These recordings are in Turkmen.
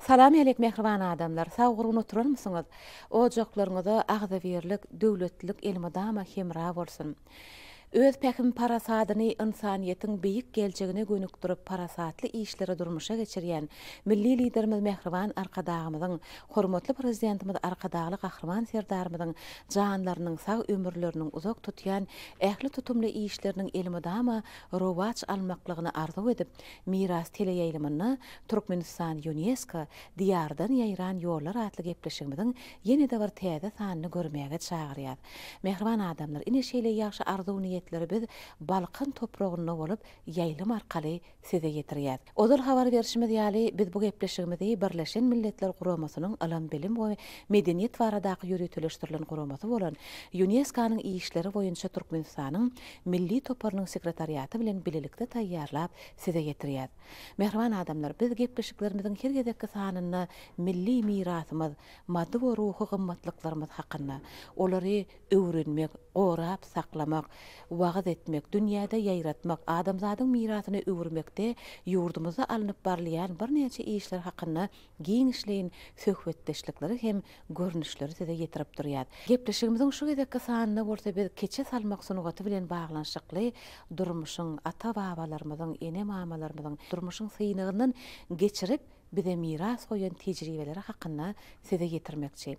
Salam ýaleýk mähriban adamlar sag gurgun oturarmysyňyz ojaklaryňyza agzybirlik döwletlilik elmydama hemra bolsun öz pähim parasadyny ynsanyýetiň beýik geljegine gönükdirip parasatly işleri durmuşa geçirýän Milli Liderimiz mähriban Arkadagymyzyň hormatly Prezidentimiz Arkadagly Gahryman Serdarymyzyň janlarynyň sag ömürleriniň uzak tutýan ähli tutumly işleriniň elmydama rowaç almaklygyny arzuw edip Miras teleýaýlymynda Türkmenistan Ýunesko, Diýardan ýaýran ýollar atly gepleşigimiziň ýene-de bir täze sanyny görmäge çagyrýar. Mähriban adamlar, ine şeýle ýagşy arzuw-niýetleri biz Balkan topragynda bolup ýaýlym arkaly size ýetirýäs. Ozal habar berşimiz ýaly, biz bu gepleşigimizi Birleşen Milletler Guramasynyň Ylym-bilim we medeniýet baradaky ýöriteleşdirilen guramasy bolan Ýuneskonyň işleri boýunça Türkmenistanyň Milli toparynyň sekretariaty bilen bilelikde taýýarlap size ýetirýäs. Mähriban adamlar, biz gepleşiklerimiziň her gezekki sanynda milli mirasymyz, maddy we ruhy gymmatlyklarymyz hakynda, olary öwrenmek, gorap saklamak, wagyz etmek, dünýäde ýaýratmak, adamzadyň mirasyna öwürmekde ýurdumyzda alnyp barylýan birnäçe işler hakynda Giňişleýin söhbetdeşlikleri hem görnüşleri size ýetirip durýas. Gepleşigimiziň şu gezekki sanynda bolsa biz keçe salmak sungaty bilen baglanyşykly durmuşyň, ata-babalarymyzyň, ene-mamalarymyzyň durmuşyň synagyndan geçirip bize miras goýan tejribeleri hakynda size ýetirmekçi.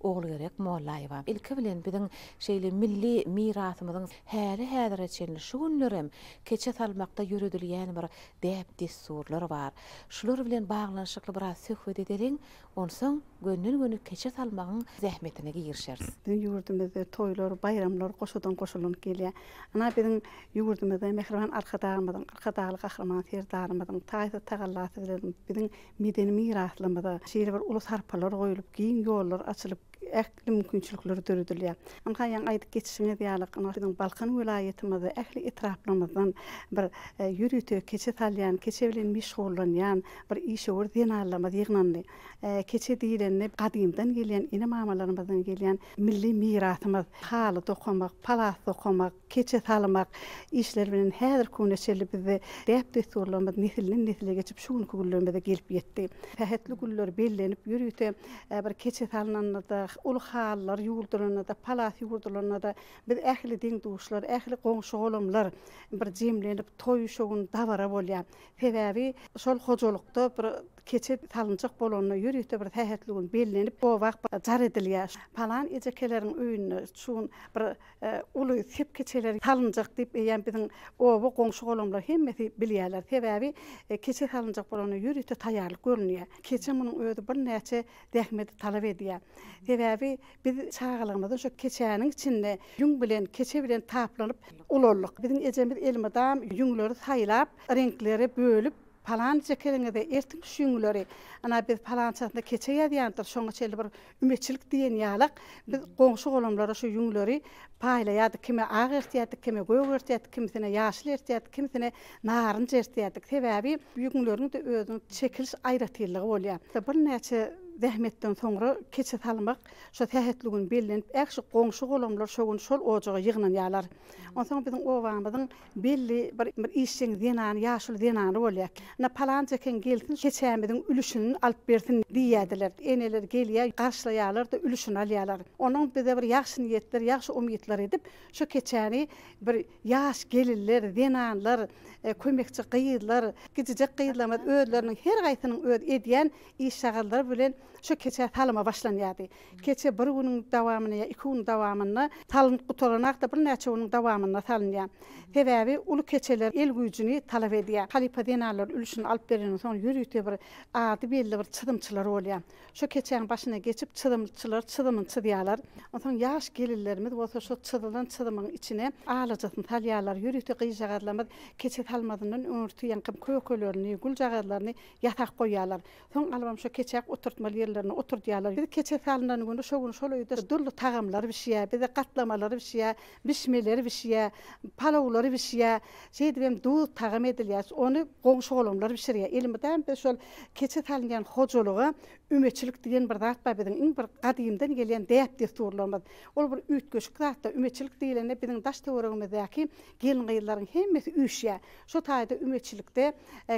Ogulgerek Mollaýewa, ilki bilen biziň şeýle milli mirasymyzyň häli-häzire çenli şu günlerem keçe salmakda ýöredilýän bir däp-dessurlar bar. Şular bilen baglanyşykly biraz söhbet edeliň, onsoň gönden-göni keçe salmagyň zähmetine girişeris. Biziň ýurdumyzda toýlar, baýramlar goşadan goşalanyp gelýär. Ana, biziň ýurdumyzda mähriban Arkadagymyzyň, Arkadagly Gahryman Serdarymyzyň taýsyz tagallasy bilen biziň Medeni miraslarymyza şeýle bir uly sarpalar goýlup, giň ýollar açylyp, ähli mümkinçilikler döredilýär. Ynha, ýaňy aýdyp geçişiňiz ýaly, ynha, biziň Balkan welaýatymyzda ähli etraplarymyzdan bir ýörite keçe salýan, keçe bilen meşgullanýan bir işewür zenanlarymyz ýygnandy. Keçe diýlende, gadymdan gelýän ene-mamalarymyzdan gelýän Milli mirasymyz, haly dokamak, palas dokamak, keçe salmak işleri bilen häzirki güne çenli bizde däp-dessurlarymyz nesilden-nesle geçip, şu günki günlerimize gelip ýetdi. Sähetli günler bellenip ýörite, bir keçe salnanda-da, uly halylar ýuwurdylanda-da, palas ýuwurdylanda-da biz ähli deň-duşlar, ähli goňşy-golamlar bir jemlenip, toý-şogun, dabara bolýar. Sebäbi şol hojalykda bir Keçe salynjak bolanda ýörite bir sähetli gün bellenip, o wagt bir jar edilýär. Palan ejekeleriň öýünde şu gün bir uly sep keçeleri salynjak diýip, eýýäm biziň oba goňşy-golamlar hemmesi bilýärler. Sebäbi keçe salynjak bolanda ýörite taýýarlyk görünýär. Keçe munuň özi birnäçe zähmeti talap edýär. Sebäbi biz çagalygymyzdan şo keçäniň içinde ýüň bilen, keçe bilen taplanyp ulaldyk. Biziň ejemiz elmydam ýüňleri saýlap, reňklere bölüp, Palança keliňize ertiň şüňňüleri, ana, biz palançasyna keçe ýazýandyr, şoňa çenli bir ümeçilik diýen ýalak, biz goňşy-golamlara şu ýüňleri paýlaýardyk, kime ak ertýärdik, kime gök ertýärdik, kimisine ýaşyl ertýärdik, kimisine narynç ertýärdik. Sebäbi ýüňleriň-de özüniň çekiliş aýratynlygy bolýar. Birnäçe zähmetden soňra keçe salmak şo sähetli gün bellenip, ähşi goňşy-golamlar şo gün şol ojaga ýygnanýarlar. Onsoň biziň obamyzyň Belli bir bir işjeň zenany, ýaşuly zenany bolýar. Ynha, palança ekeni gelsin, keçämiziň ülüşini alyp bersin diýýärdiler. Eneler gelýär, garşylaýarlar-da, ülüşini alýarlar. Onuň bize bir ýagşy niýetler, ýagşy umytlar edip, şo keçäni bir ýaş gelinler, zenanlar, kömekçi gyzlar, kiçijek gyzlarymyz özleriniň her haýsynyň öz edýän iş-şagallary bilen şo keçä salama başlanýardy. Keçe bir günüň dawamynda ýa iki günüň dawamynda salnyp gutaranak-da birnäçe günüň dawamynda salynýar. Sebäbi uly keçeler el güýjüni talap edýär. Halypa zenanlar ülşüni alyp bereniň soň ýörite bir ady belli bir çyzymçylar bolýar. Şo keçäň başyna geçip çyzymçylar çyzymyny çyzýarlar. Onsoň ýaş gelinlerimiz bolsa şo çyzylan çyzymyň içine alajasyny salýarlar. Ýörite gyzjagazlarymyz keçe salmazyndan öňürti ýaňky kökelerini, güljagazlaryny ýasap goýýarlar. Soň alybam şo keçäp oturtmaly ýerlerine oturdýarlar. Biz keçe salynan güni şo gün şol öýde dürli tagamlar bişýär. Bize gatlamalar bişýär, bişmeler bişýär, palawlar bişýär. Şeýdip hem duz tagam edilýär. Ony goňşy-golamlar bişirýär. Elmydam biz şol keçe salynýan hojalyga ümeçilik diýen bir zat bar biziň. Iň bir gadymdan gelýän däp-dessurlarymyz. Ol bir üýtgeşik zatda, ümeçilik diýlende biziň daş-töweregimizdäki Gelin-gyzlaryň hemmesi üýşýär. Şu taýda ümeçilikde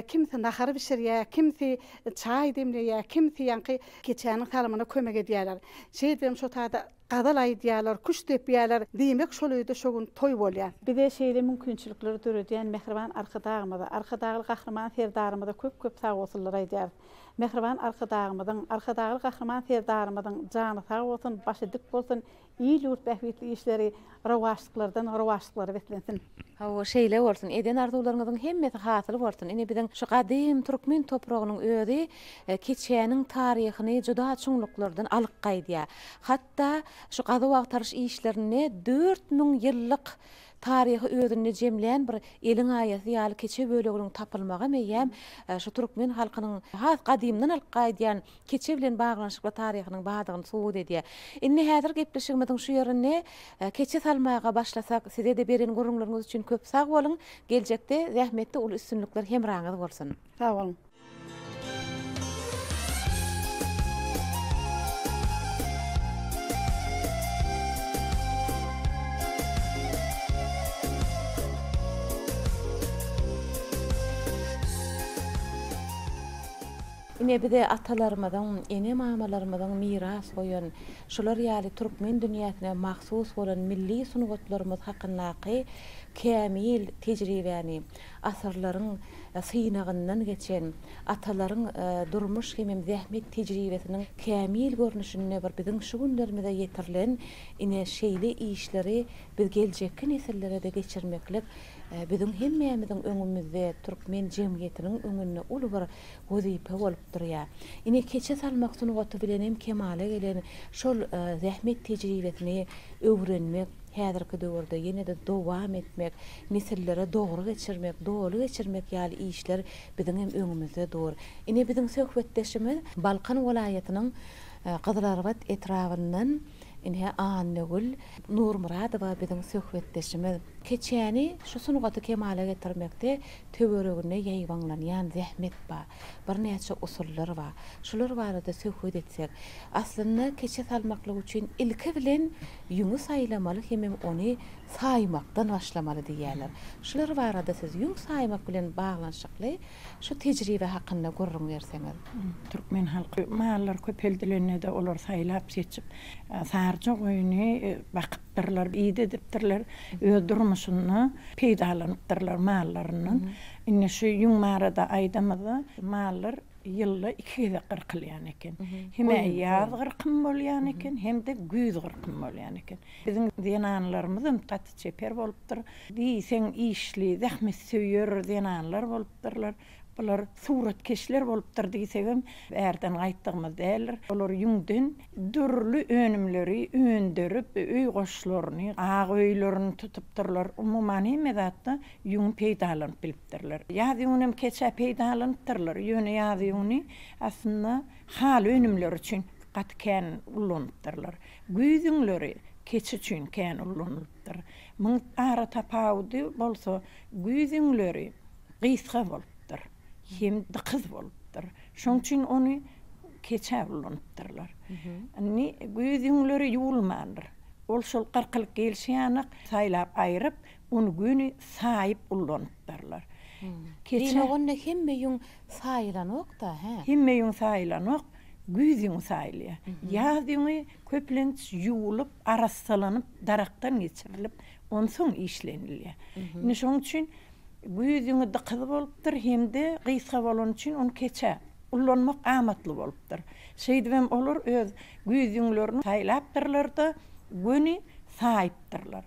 kimsi nahar bişirýär, kimsi çaý demleýär, kimsi ýaňky keçäniň salymyna kömek edýärler. Şeýdibem şu taýda gazal aýdýarlar, küşt depýärler. Diýmek, şol öýde şu gün toý bolýar. Bize şeýle mümkinçilikleri döredýän mähriban Arkadagymyza, Arkadagly Gahryman Serdarymyza köp-köp sagbolsunlar aýdýarys. Mähriban Arkadagymyzyň, Arkadagly Gahryman Serdarymyzyň jany sag bolsun, başy dik bolsun, Il-ýurt bähbitli işleri rowaçlyklardan rowaçlyklara beslensin! Hawa, şeýle bolsun. Eden arzuwlaryňyzyň hemmesi hasyl bolsun. Ine, biziň şu gadym türkmen topragynyň özi keçäniň taryhyny juda çuňluklardan alyp gaýdýar. Hatda şu gazuw-agtaryş işlerinde dört müň ýyllyk taryhy özünde jemlän bir eliň aýasy ýaly keçe böleginiň tapylmagy meýgäm şu türkmen halkynyň has gadymdan alyp gaýdýan keçe bilen baglanyşykly taryhynyň bardygyny subut edýär. Indi häzir gepleşigimiziň şu ýerinde keçe salmaga başlasak, size-de beren gürrüňleriňiz üçin köp sag boluň, geljekde zähmetde uly üstünlikler hemraňyz bolsun! Sag boluň! Ine bize atalarymyzyň, ene-mamalarymyzyň miras goýan, şular ýaly türkmen dünýäsine mahsus bolan milli sungatlarymyz hakyndaky kämil tejribäni, asyrlaryň synagyndan geçen, atalaryň durmuş hemem zähmet tejribesiniň kämil görnüşinde bir biziň şu günlerimize ýetirilen ine şeýle işleri biz geljekki nesillere-de geçirmeklik biziň hemmämiziň öňümizde, türkmen jemgyýetiniň öňünde uly bir wezipe bolup durýar. Ine, keçe salmak sungaty bilenem kemala gelen şol zähmet tejribesini öwrenmek, häzirki döwürde ýene-de dowam etmek, nesillere dogry geçirmek, doly geçirmek ýaly işler biziňem öňümizde dur. Ine, biziň söhbetdeşimiz Balkan welaýatynyň Gyzylarbat etrabyndan ine, Annagül Nurmyradowa biziň söhbetdeşimiz. Keçäni, şu sungaty kemala getirmekde Töwereginde ýaýbaňlanýan zähmet bar. Birnäçe usullar bar. Şular barada söhbet etsek. Aslynda keçe salmaklyk üçin ilki bilen ýüňi saýlamaly hemem ony saýmakdan başlamaly diýýärler. Şular barada siz ýüň saýmak bilen baglanyşykly şu tejribe hakynda gürrüň berseňiz. Türkmen halky mallary köpeldilende-de olar saýlap seçip, saryja goýny bakyp aýdypdyrlar, ýit edipdirler, öz durmuşynda peýdalanypdyrlar mallaryndan. Indi şu ýüň barada aýdamyzda, mallar ýylda iki gezek gyrkylýan eken. Hem ýaz gyrkym bolýan eken, hem-de güýz gyrkym bolýan eken. Biziň zenanlarymyzam gaty çeper bolupdyr. Diýseň işli, zähmetsöýer zenanlar bolupdyrlar. Bular suratkeşler bolupdyr diýsegem bärden gaýtdygymyz däldir. Olar ýüňden dürli önümleri öndürip, öý goşlaryny, agy öýlerini tutupdyrlar. Umuman hemme zatda ýüňi peýdalanyp bilipdirler. Ýaz ýüňünem keç-ä peýdalanypdyrlar. Ýöne ýaz ýüňüni aslynda haly önümleri üçin gaty kän ullanypdyrlar. Güýz ýüňleri keçi üçin kän ullanylypdyr. Muň ara tapawudy bolsa güýz ýüňleri gysga bolupdyr hem dykyz bolupdyr. Şoň üçin ony keçä ulanypdyrlar. Indi güýz ýüňleri ýuwulmandyr. Ol şol gyrkylyk gelşiýanak saýlap aýryp, ony göni saýyp ulanypdyrlar. Keçä. Diýmek onda hemme ýüň saýylanok-da, hä? Hemme ýüň saýylanok, güýz ýüňi saýylýar. Ýaz ýüňi köplenç ýuwulyp, arassalanyp, darakdan geçirilip, onsoň işlenilýär. Indi şoň üçin. Güýz ýüňi dykyz bolupdyr hem-de gysga bolany üçin ony keçe ullanmak amatly bolupdyr. Şeýdibem olar öz güýz ýüňlerini saýlapdyrlar-da, göni saýypdyrlar.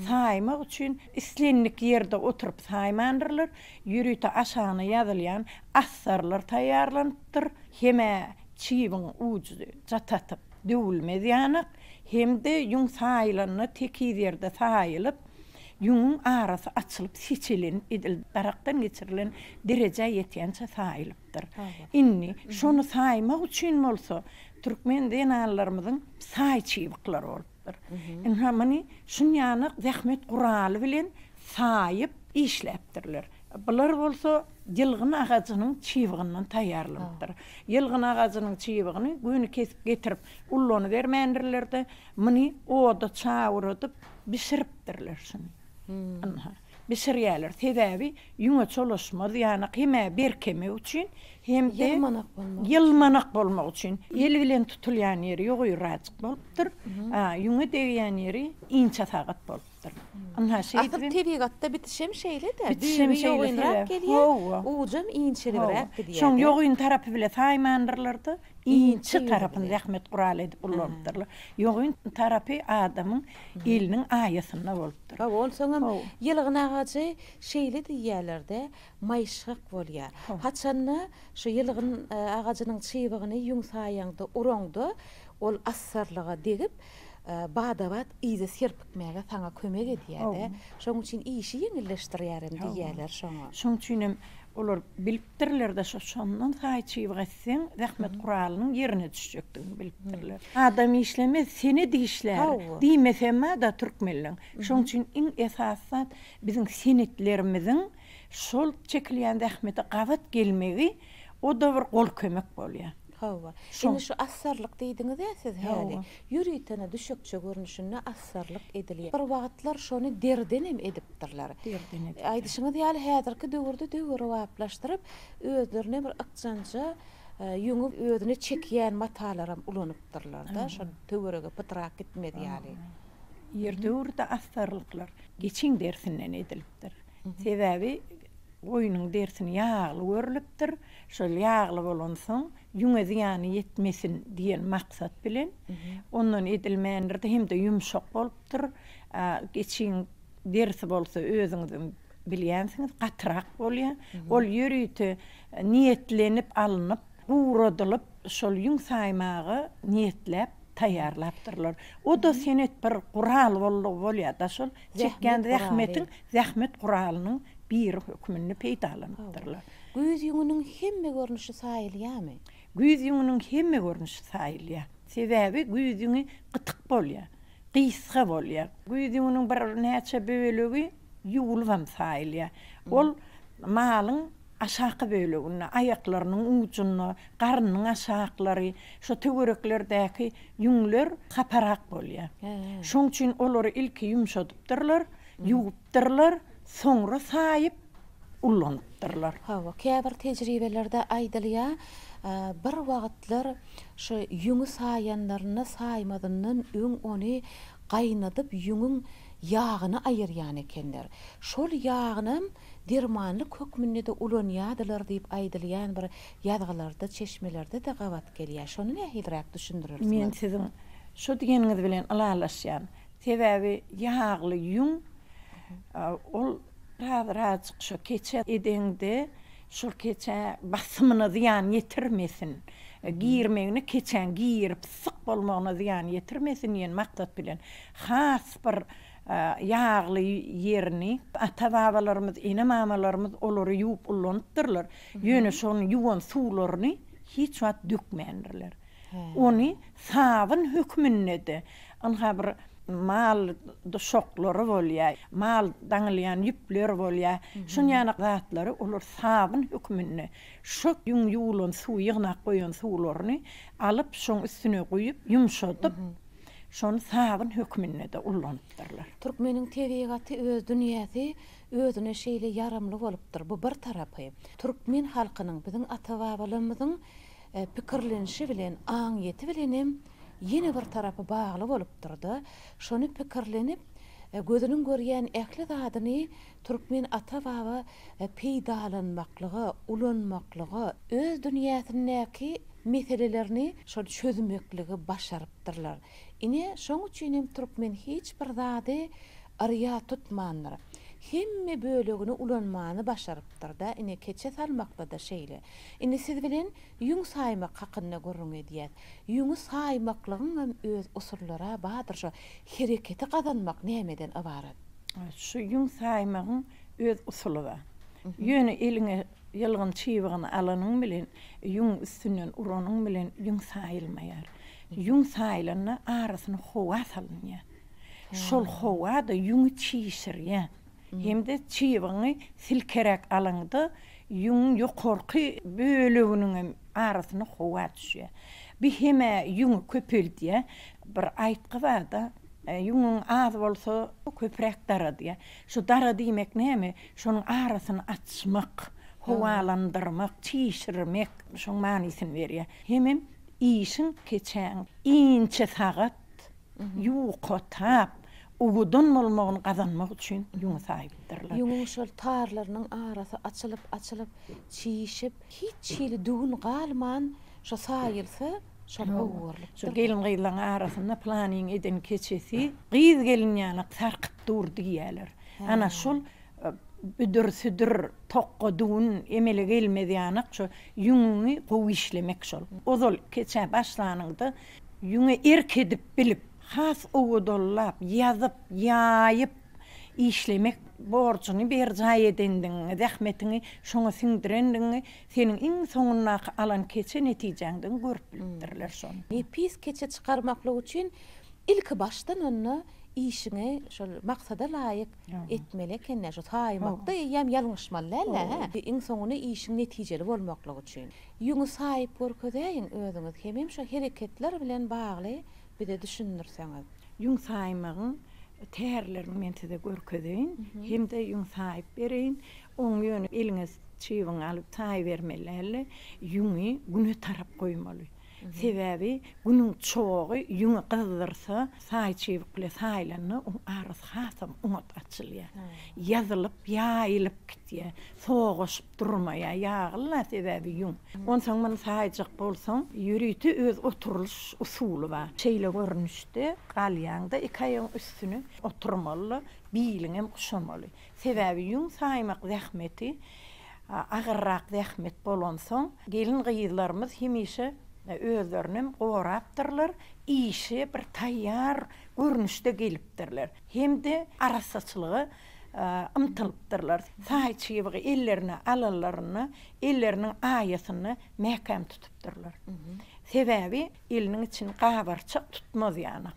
Saýmak üçin islendik ýerde oturyp saýmandyrlar, ýörite aşagyna ýazylýan astarlar taýýarlanypdyr, hem-ä çibiň ujy jatatyp, döwülmez ýanak hem-de ýüň saýylanda tekiz ýerde saýylyp, Ýüňüň arasy açylyp, seçilenip edil darakdan geçirilen derejä ýetýänçä saýylypdyr. Indi, şony saýmak üçin bolsa, türkmen zenanlarymyzyň saý çybyklary bolupdyr. Ynha, muny şunýanok zähmet guraly bilen saýyp, işläpdirler. Bular bolsa ýylgyn agajynyň çybygyndan taýýarlanypdyr. Ýylgyn agajynyň çybygyny göni kesip getirip ullanybermändirler-de, muny oda çawuradyp, bişiripdirler şuny. Ynha, bişirýärler. Sebäbi ýüňe çolaşmaz, ýanak hem-ä berkemek üçin, hem-de ýylmanak bolmak üçin. El bilen tutulýan ýeri ýogaýrajyk bolupdyr, a ýüňe degýän ýeri inçe sagat bolupdyr. Ynha, şeýdibem. Asyl tebigatda bitişem şeýle-dä. Düýbi ýogynrak gelýär, ujam inçelibräk gidýär. Şoň ýogyn tarapy bile saýmandyrlar-da. Inçe tarapyny zähmet guraly edip ullanypdyrlar. Ýogyn tarapy adamyň eliniň aýasynda bolupdyr. Hawa, onsoňam ýylgyn agajy şeýle diýýärler-de, maýyşgak bolýar. Haçan-da şu ýylgyn agajynyň çybygyny ýuňsaýaňda, uraňda, ol assarlyga degip, bada-bat yza serpikmäge saňa kömek edýär-de, şonuň üçin işi ýeňilleşdirýär hem diýýärler şoňa. Şonuň üçin hem olar bilipdirler-de, şo-şondan saýy çybyga Seň zähmet guralynyň ýerine düşjekdigiňi bilipdirler. Adam işlemez, sene dişlär diýmesem bar-da türkmenleň. Şoň üçin iň esasy zat biziň senetlerimiziň şol çekilýän zähmete gabat gelmegi o-da bir gol kömek bolýar. Hawa. Indi şu assarlyk diýdiňiz-ä siz häli. Ýöritene düşekçe görnüşinde assarlyk edilýär. Bir wagtlar şony derden hem edipdirler. Derden edipdirler. Aýdyşyňyz ýaly häzirki döwürde döwrebaplaşdyryp, Özlerine bir ykjanja ýüňi özüne çekýän matalaram ulanypdyrlar-da, şol töwerege pytrak gitmez ýaly. Ýerdöwürde astarlyklar geçiň derisinden edilipdir. Sebäbi goýnuň derisini ýagly görlüpdir. Şol ýagly bolansoň, ýüňe zyýany ýetmesin diýen maksat bilen ondan edilmändir-de, hem-de ýumşak bolupdyr. Geçiň. derisi bolsa özüňiziň bilýänsiňiz gatyrak bolýar. Ol ýörite niýetlenip alnyp, guradylyp, şol ýüň saýmaga niýetläp taýýarlapdyrlar. O-da senet bir gural boldugy bolýar-da, şol çekýän zähmetiň, zähmet guralynyň biri hökmünde peýdalanypdyrlar. Güýz ýüňüniň hemme görnüşi saýylýarmy? Güýz ýüňüniň hemme görnüşi saýylýar. Sebäbi güýz ýüňi gytyk bolýar. gysga bolýar. Güýz ýüňüniň birnäçe bölegi ýuwulybam saýylýar. Ol malyň aşaky böleginde, aýaklarynyň ujunda, garnynyň aşaklary, şu töwereklerdäki ýüňler haparak bolýar. Şoň üçin olary ilki ýumşadypdyrlar, ýuwupdyrlar, soňra saýyp, ullanypdyrlar. Hawa, käbir tejribelerde aýdylýar, bir wagtlar şu ýüňi saýanlarynda saýmazyndan öň ony gaýnadyp ýüňüň ýagyny aýyrýan ekenler. Şol ýagynam dermanlyk hökmünde-de ulanýardylar diýip aýdylýan bir ýazgylarda, çeşmelerde-de gabat gelýär. Şony nähiliräk düşündireris? Men siziň şu diýeniňiz bilen ylalaşýan. Sebäbi ýagly ýüň ol Azajyk şo keçe edeňde şol keçä basymyna zyýan ýetirmesin, girmegine keçäň girip syk bolmagyna zyýan ýetirmesin diýen maksat bilen has bir ýagly ýerini ata-babalarymyz, ene-mamalarymyz olary ýuwup ullanypdyrlar. Ýöne şony ýuwan suwlaryny hiç wagt dökmändirler. Ony sabyn hökmünde-de, Ynha bir mal duşaklary bolýar, mal daňylýan ýüpler bolýar. Şun ýaly zatlary olar sabyn hökmünde şu ýüň ýuwlan suw, ýygnap goýan suwlaryny alyp, şoň üstüne guýup, ýumşadyp, şony sabyn hökmünde-de ullanypdyrlar. Türkmeniň tebigaty, öz dünýäsi özüne şeýle ýaramly bolupdyr. Bu bir tarapy. Türkmen halkynyň, biziň ata-babalarymyzyň pikirlenişi bilen, aňyýeti bilen hem, ýene bir tarapy bagly bolupdyr-da, şony pikirlenip, gözüniň görýän ähli zadyny türkmen ata-baba peýdalanmaklyga, ulanmaklyga, öz dünýäsindäki meselelerini şol çözmekligi başarypdyrlar. Ine, şoň üçin hem türkmen hiç bir zady yrýa tutmandyr. Hemme bölegini ulanmany başarypdyr-da, ine, keçe salmakda-da şeýle. Indi siz bilen ýüň saýmak hakynda gürrüň edýäs. Ýüňi saýmaklygyň hem öz usullary-a bardyr, şo hereketi gazanmak nämeden ybarat? Şu ýüň saýmagyň öz usuly bar. Ýöne eliňe ýylgyn çybygyny alanyň bilen, ýüňüň üstünden uranyň bilen ýüň saýylmaýar. Ýüň saýylanda arasyna howa salynýar. Şol howa-da ýüňi çişirýär. hem-de çybyňy silkeräk alaňda ýüňüň ýokarky böleginiň hem arasyna howa düşýär. Bu hem-ä ýüňi köpeldýär. Bir aýtgy barda, Ýüňüň az bolsa, köpräk dara diýýär. Şu dara diýmek näme? Şonuň arasyny açmak, howalandyrmak, çişirmek şoň manysyny berýär. Hemem işiň keçäň inçe sagat ýuwkatap, owadan bolmagyny gazanmak üçin ýüňi saýypdyrlar. Ýüňüň şol tarlarynyň arasy açylyp-açylyp, çişip, hiç hili düwün galman, şo saýylsa, şol gowy görlüpdir. Şu gelin-gyzlaryň arasynda Pylanyň eden keçesi gyz-gelin ýalak sarkyp dur diýýärler. Ana, şol büdür-südür, tokga düwün emele gelmez ýanak, şo ýüňüňi gowy işlemek şol. Ozal keçä başlanyňda Ýüňe erk edip bilip, has owadanlap, ýazyp, ýaýyp işlemek borjuny berjaý edendigiňi, zähmetiňi şoňa siňdirendigiňi seniň iň soňundaky alan keçe netijäňden görüp bilipdirler şony. Nepis keçe çykarmaklyk üçin ilki başdan onda işiňi şol maksada laýyk etmeli eken-dä, şu saýmakda eýýäm ýalňyşmaly däl-dä, hä? Iň soňunda işiň netijeli bolmaklygy üçin. Ýüňi saýyp görkezäýiň özüňiz hemem şu hereketler bilen bagly bize düşündirseňiz. Ýüň saýmagyň tärlerini men size görkezeýin hemde ýüň saýyp bereýin. Oň ýöne eliňe çybyňy alyp saýybermeli dälde, ýüňi güne tarap goýmaly. Sebäbi günüň çogy ýüňi gyzdyrsa, saý çybyk bilen saýlanda oň arasy hasam oňat açylýar. Ýazylyp, ýaýylyp gitýär. Sogaşyp. Durmaýar ýagyl-la sebäbi ýüň. Onsoň muny saýjak bolsaň, ýörite öz oturylyş usuly bar. Şeýle görnüşde galýaň-da, iki aýagyň üstüne oturmaly-da, biliňem guşamaly. Sebäbi ýüň saýmak zähmeti agyrrak zähmet bolansoň, gelin-gyzlarymyz hemişe özlerinem gorapdyrlar, işe bir taýýar görnüşde gelipdirler hem-de arassaçylyga ymtylypdyrlar. Saýy çybygy ellerine alanlarynda elleriniň aýasyny mäkäm tutupdyrlar. Sebäbi eliniň içini gabarçak tutmaz ýana.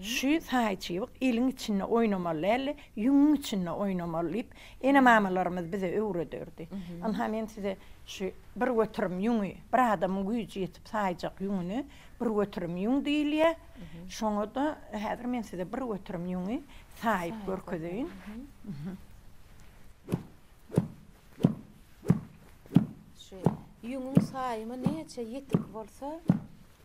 Şü saýy çybyk eliň içinde oýnamaly däldi, ýüňüň içinde oýnamaly diýip, ene-mamalarymyz bize öwrederdi. Ynha, men size şü bir göterim ýüňi, bir adamyň güýji ýetip saýjak ýüňüni bir göterim ýüň diýilýär. Şoňa-da häzir men size bir göterim ýüňi saýyp görkezeýin. Şu ýüňüň saýymy näçe ýetik bolsa,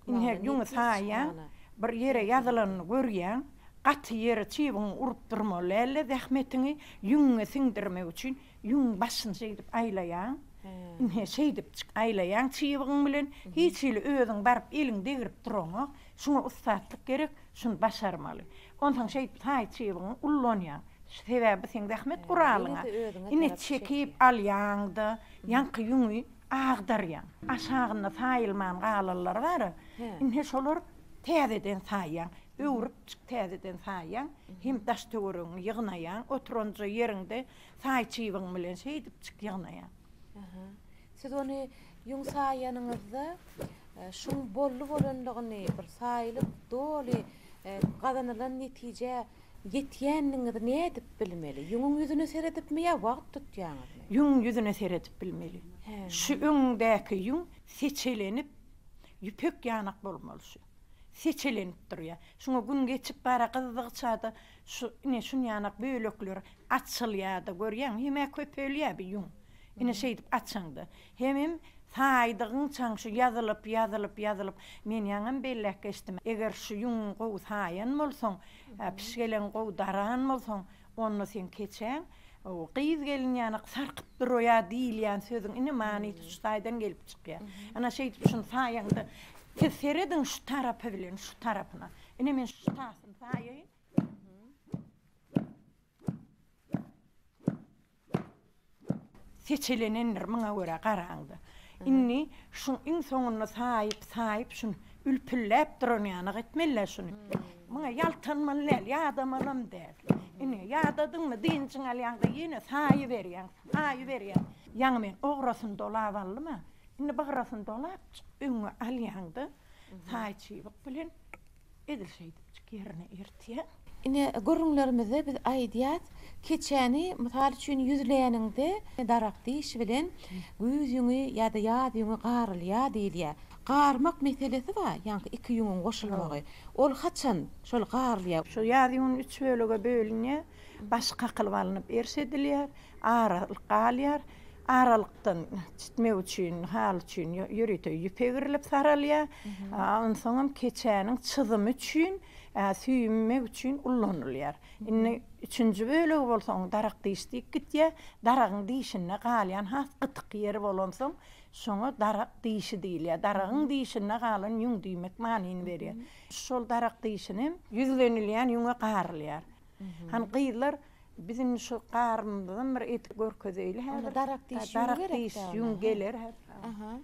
indi ýüňi saýýan, bir ýere ýazylanyny görýän, gaty ýeri çybyn urup durmaly däldi, zähmetiňi ýüňüňe siňdirmek üçin Ýüň başyny şeýdip aýlaýaň. Ine, şeýdip çyk aýlaýaň çybygyň bilen. Hiç hili özüň baryp eliň degrip duraňok. Şuňa ussatlyk gerek, şuny başarmaly. Onsoň şeýdip taý çybygyňy ullanýaň. Sebäbi bu seň zähmet guralyň-a. Ine, çekip alýaň-da, ýaňky ýüňi agdarýaň. Aşagynda saýylman galanlary bar-a, ine şolar täzeden saýýaň. Öwrüp çyk täzeden saýýaň. Hem daş-töweregiňi ýygnaýaň, oturanja ýeriňde Saý çybyň bilen şeýdip çyk ýygnaýaň. Aha. Siz ony ýüň saýýanyňyzda şuň bolly bolandygyny, bir saýylyp doly gazanylan netijä ýetýändigiňizi nädip bilmeli? Ýüňüň ýüzüne seredipmi ýa wagt tutýaňyzmy? Ýüňüň ýüzüne seredip bilmeli. Şu öňüňdäki ýüň seçelenip ýüpek ýanak bolmaly şu. Seçelenip durýar. Şuňa gün geçip bara gyzdygyça-da Şu, ine, şunýanak bölekler açylýar-da, görýäňmi, hem-ä köpelýär bu ýüň. Ine, şeýdip açaňda, hemem saýdygyňçaň şu ýazylyp, ýazylyp, ýazylyp, men ýaňam belläp geçdim, eger şu ýüň gowy saýan bolsaň, pişgeleň gowy daran bolsaň, onda seň keçäň gyz-gelin ýanak sarkyp duraýar diýilýän sözüň, ine, manysy şu taýdan gelip çykýar. Ana, şeýdip şuny saýaňda, siz serediň şu tarapy bilen şu tarapyna, Ine men şu tasyny saýaýyn. Seçilenendir muňa görä garaňda. Indi şu iň soňunda saýyp, saýyp şun ülpülläp duran ýanyk etmeli şuny. Muňa ýaltanmaly däl, ýadamalam däl. Ine ýadadyňmy dynjyň alýaňda ýene saýyberýäň, saýyberýäň. Ýaňy men ograsyny dolap aldyma. Indi bygrasyny dolap öňe alýaňda. Taý çybyk bilen edil şeýdipjik ýerine ertýäň. Ine, gürrüňlerimizde biz aýdýas, keçäni, mysal üçin, ýüzläniňde daragt diýşi bilen güýz ýüňi ýa-da ýaz ýüňi garylýar diýilýär. Garmak meselesi bar, ýaňky iki ýüňüň goşulmagy. Ol haçan şol garylýar? Şu ýaz ýüňüni üç bölege bölünýär. Baş kakylyp alnyp erş edilýär. Aralyk galýar. Aralykdan çitmek üçin, haly üçin ýörite ýüp egirilip saralýar. Onsoňam keçäniň çyzymy üçin, süýümek üçin ullanylýar. Indi üçünji bölegi bolsa onuň darak diş diýip gitýär. Daragyň dişinde galýan has gytyk ýeri bolansoň, şoňa darak dişi diýilýär. Daragyň dişinde galan ýüň diýmek manyny berýär. Şol darak dişinem ýüzlenilýän ýüňe garylýar. Hany gyzlar biziň şu garynymyzdan bir edip görkezeýli häzir. Darak diş ýüň gerek. Darak diş ýüň geler häzir. Aha.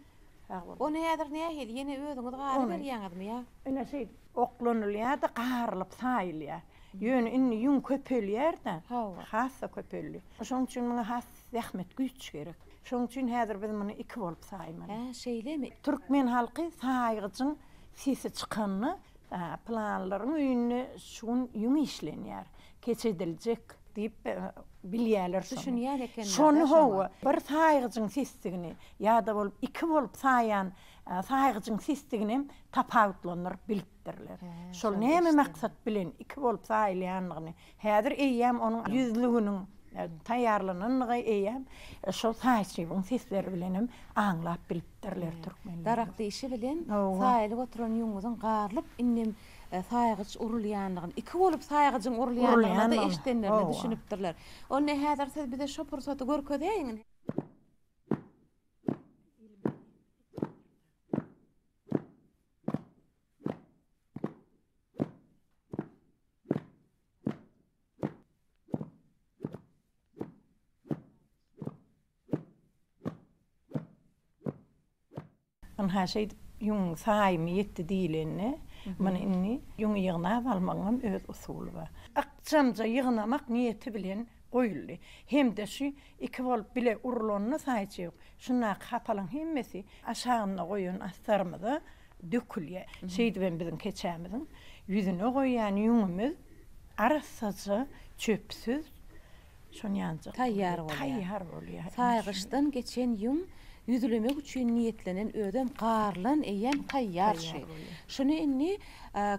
Ony häzir nähili ýene özüňiz garyp berýäňizmi ýa? Ine şeýdip oklanylýar-da garylyp saýylýar. Ýöne indi ýüň köpelýär-de. Hawa. Hassa köpeldi. Şonuň üçin muňa has zähmet, güýç gerek. Şonuň üçin häzir biz muny iki bolup saýmaly. Hä, şeýlemi? Türkmen halky saýgyjyň sesi çykanda Pylanlaryň öýünde şu gün ýüň işlenýär, keç ediljek. Diýip, bilýärler şony. Düşünýän ekenler-de şoňa. Şony, hawa, bir saýgyjyň sesdigini ýa-da bolup iki bolup saýýan saýgyjyň sesdiginem tapawutlandyryp bilipdirler. Şol näme maksat bilen iki bolup saýylýandygyny Häzir eýýäm onuň ýüzlüginiň taýýarlanandygy eýýäm şol saýçybyň sesleri bilenem aňlap bilipdirler türkmenler. Darak dişi bilen saýylyp oturan ýüňňüziň garlyp indem saýgyç urulýandygyny, iki bolup saýgyjyň urulýandygyny-da eşidenlerine düşünipdirler. Onda häzir siz bize şo pursaty görkezäýiň. Ynha şeýdip ýüňüň saýymy ýetdi diýlende, muny indi ýüňi ýygnap almagyň hem öz usuly bar. Ykjamja ýygnamak niýeti bilen goýuldy. Hem-de şu iki bolup bile urulanyna saýçy ýok. Şundaky hapalyň hemmesi aşagynda goýan astarymyza dökülýä. Şeýdibem biziň keçämiziň ýüzüne goýýan ýüňümiz arassaja çöpsüz şony ýanjak Taýýar bolýar. Taýýar bolýar. Saýgyçdan geçen ýüň ýüzlemek üçin niýetlenen özem garlan eýýäm taýýar şy. Şuny indi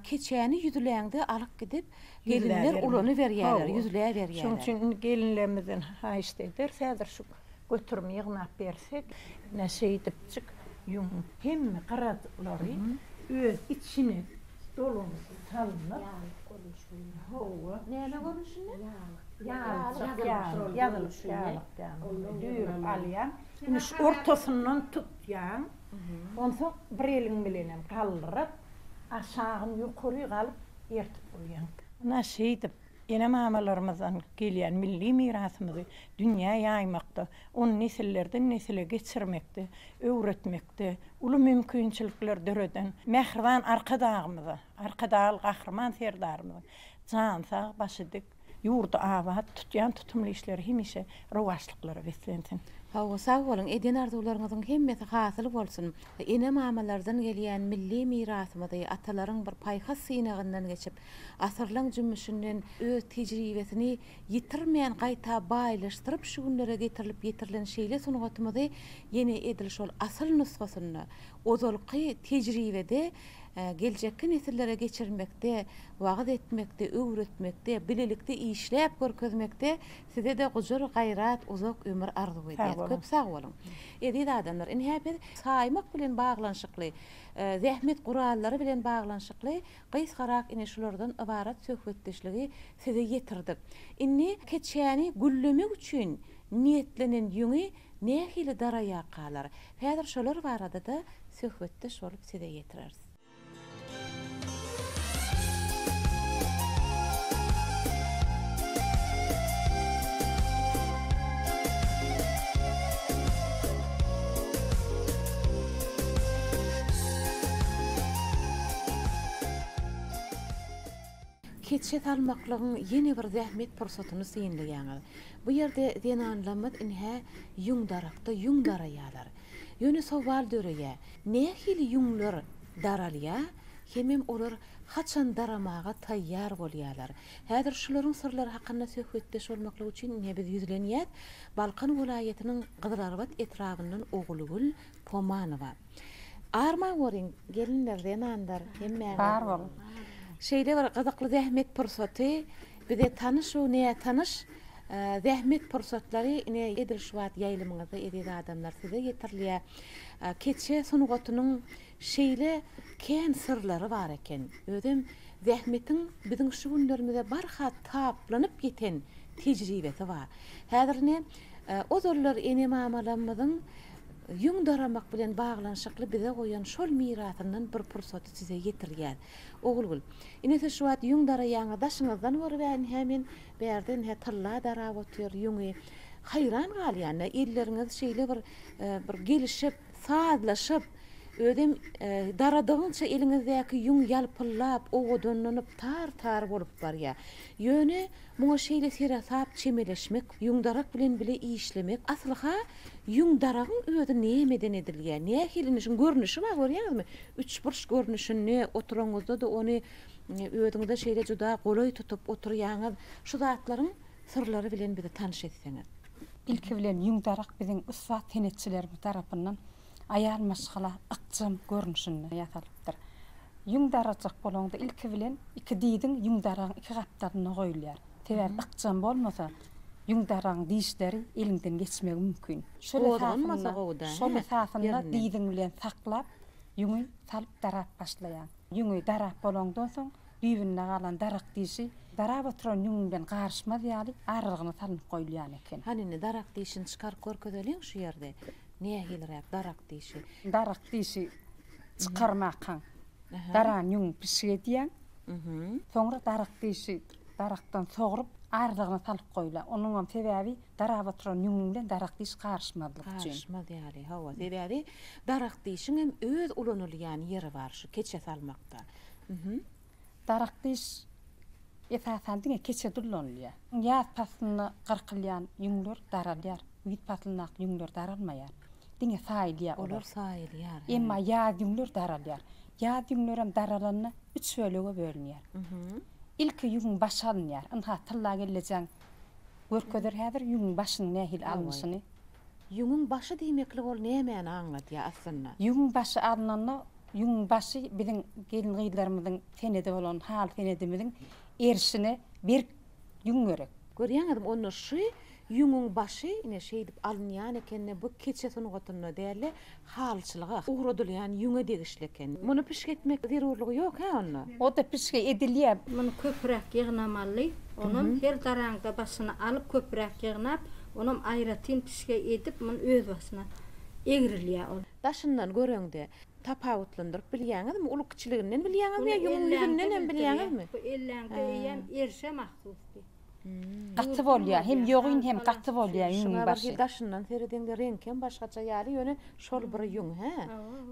keçäni ýüzläňde alyp gidip gelinler ulanyberýärler, ýüzläberýärler. Şoň üçin indi gelinlerimizden haýyşt ederis häzir şu Göterim ýygnap bersek. Ine şeýdipjik ýüň hemme gyratlary öz içine dolanyp salnyp. Ýalyk görnüşinde. Hawa. Näme görnüşinde? Ýalyk. Ýalyjak ýaly ýazylyp ýalyk ýaly. Düýrüp alýaň. Ine şu ortasyndan tutýaň. Onsoň bir eliň bilenem galdyryp aşagyn ýokaryk alyp ertip goýýaň. Ine şeýdip. Ene-mamalarymyzdan gelýän milli mirasymyzy dünýä ýaýmakda, ony nesillerden-nesile geçirmekde, öwretmekde uly mümkinçilikler döreden mähriban Arkadagymyza, Arkadagly Gahryman Serdarymyzyň jany sag, başy dik, ýurdy abat, tutýan tutumly işleri hemişe rowaçlyklara beslensin! Hawa, sag boluň, eden arzuwlaryňyzyň hemmesi hasyl bolsun! Ene-mamalardan gelýän milli mirasymyzy, atalaryň bir paýhas synagyndan geçip, Asyrlaň jümmüşinden öz tejribesini ýitirmän gaýta baýlaşdyryp şu günlere getirilip ýetirilen şeýle sungatymyzy ýene edil şol asyl nusgasynda, ozalky tejribede geljekki nesillere geçirmekde, wagyz etmekde, öwretmekde, bilelikde işläp görkezmekde size-de gujur gaýrat, uzak ömür arzuw edýäs. Köp sag boluň. Eziz adamlar, ine-hä biz saýmak bilen baglanyşykly, zähmet gurallary bilen baglanyşykly Gysgarak ine şulardan ybarat söhbetdeşligi size ýetirdik. Indi keçäni güllemek üçin niýetlenen ýüňi nähili daraýa kalar? Häzir şolar barada-da söhbetdeş bolup size ýetireris. Keçe salmaklygyň ýene bir zähmet pursatyny synlaýaňyz. Bu ýerde zenanlamyz inhä ýüň darakda ýüň daraýarlar. Ýöne sowal döreýär, nähili ýüňler daralýar hemem olar haçan daramaga taýýar bolýarlar? Häzir şularyň syrlary hakynda söhbetdeş bolmaklyk üçin inhä biz ýüzlenýäs, Balkan welaýatynyň Gyzylarbat etrabyndan Ogulgül, Pomanowa. Arman görüň, gelinler, zenanlar, hemmäňiz. Bar boluň. Şeýle bir gyzykly zähmet pursaty, bize tanyş we nätanyş zähmet pursatlary ine edil şu wagt ýaýlymyňyzda eziz adamlar size ýetirilýär. Keçe sungatynyň şeýle kän syrlary bar eken. Özem zähmetiň biziň şu günlerimize barha taplanyp ýeten tejribesi bar. Häzir ine ozallar ene-mamalarymyzyň Ýüň daramak bilen baglanyşykly bize goýan şol mirasyndan bir pursaty size ýetirýär. Ogulgül. Ine siz şu wagt ýüň daraýaňyz, daşyňyzdan görübärin hä men, bärden hä tylla darap otyr ýüňi. Haýran galýan-da, elleriňiz şeýle bir bir gelişip, sazlaşyp, özem daradygyňça eliňizdäki ýüň ýalpyllap, owadanlanyp, tar-tar bolup barýar. Ýöne Muňa şeýle seresap çemeleşmek, ýüň darak bilen bile işlemek, asylha ýüň daragyň özi nämeden edilýär, nähilini, şuň görnüşi bar görýäňizmi, üçburç görnüşini, oturanyňyzda-da ony özüňize şeýle juda golaý tutup oturýaňyz, şu zatlaryň syrlary bilen bizi tanyş etseňiz. Ilki bilen ýüň darak biziň ussat senetçilerimiz tarapyndan Aýal maşgala ykjam görnüşinde ýasalypdyr. Ýüň darajak bolanda ilki bilen iki diziň ýüň daragyň iki gapdalynda goýulýar. Sebäbi ykjam bolmasa, ýüň daragyň dişleri eliňden geçmegi mümkin. Şol esasynda, şol esasynda diziň bilen saklap, ýüňi salyp darap başlaýaň. Ýüňi darap bolandan soň, düýbünde galan darak dişi darap oturan ýüňüňden garyşmaz ýaly aralygyna salnyp goýulýan eken. Hany indi darak dişini çykaryp görkezeliň şu ýerde nähiliräk darak dişi. Darak dişi çykarmakaň darany ýüňüň pişik edýäň. Soňra darak dişi darakdan sogrup aralygyna salyp goýula. Onuňam sebäbi darap oturan ýüňüň bilen darak diş garyşmazlyk üçin. Garyşmaz ýaly hawa sebäbi darak dişiňem öz ulanylýan ýeri bar şu keçe salmakda. Uhum. Darak gyş esasan diňe keçe dullanylýar. Ýaz paslynda gyrkylýan ýüňler daralýar. Güýz paslyndaky ýüňler daralmaýar. Diňe saýylýar olar. Olar saýylýar, hä. Emma ýaz ýüňler daralýar. Ýaz ýüňlerem daralanda üç bölege bölünýär. Uhum. Ilki ýüňüň başy alynýar. Ynha, tylla kellejäň görkezer häzir ýüňüň başynyň nähili alnyşyny. Ýüňüň başy diýmeklik ol nämäni aňladýar aslynda? Ýüňüň başy alnanda ýüňüň başy biziň gelin-gyzlarymyzyň senedi bolan haly senedimiziň erişine berk ýüň gerek. Görýäňizmi, onda şu ýüňüň başy ine şeýdip alynýan ekeni, bu keçe sungatynda däl-de, Halyçylyga ugradylýan ýüňe degişli eken. Muny pişik etmek zerurlygy ýok hä onda? O-da pişige edilýär. Muny köpräk ýygnamaly. Onam her daraňda başyny alyp köpräk ýygnap, onam aýratyn pişige edip, muny öz başyna egrilýär ol. Daşyndan göreňde tapawutlandyryp bilýäňizmi? Uly-kiçiliginden bilýäňizmi ýa ýüňüň ýüzünden hem bilýäňizmi? Bu elläňde eýýäm erişe mahsusdy. Gaty bolýa hem ýogyn hem gaty bolýa ýüňiň başy. Daşyndan seredeňde reňkem başgaça ýaly ýöne şol bir ýüň hä.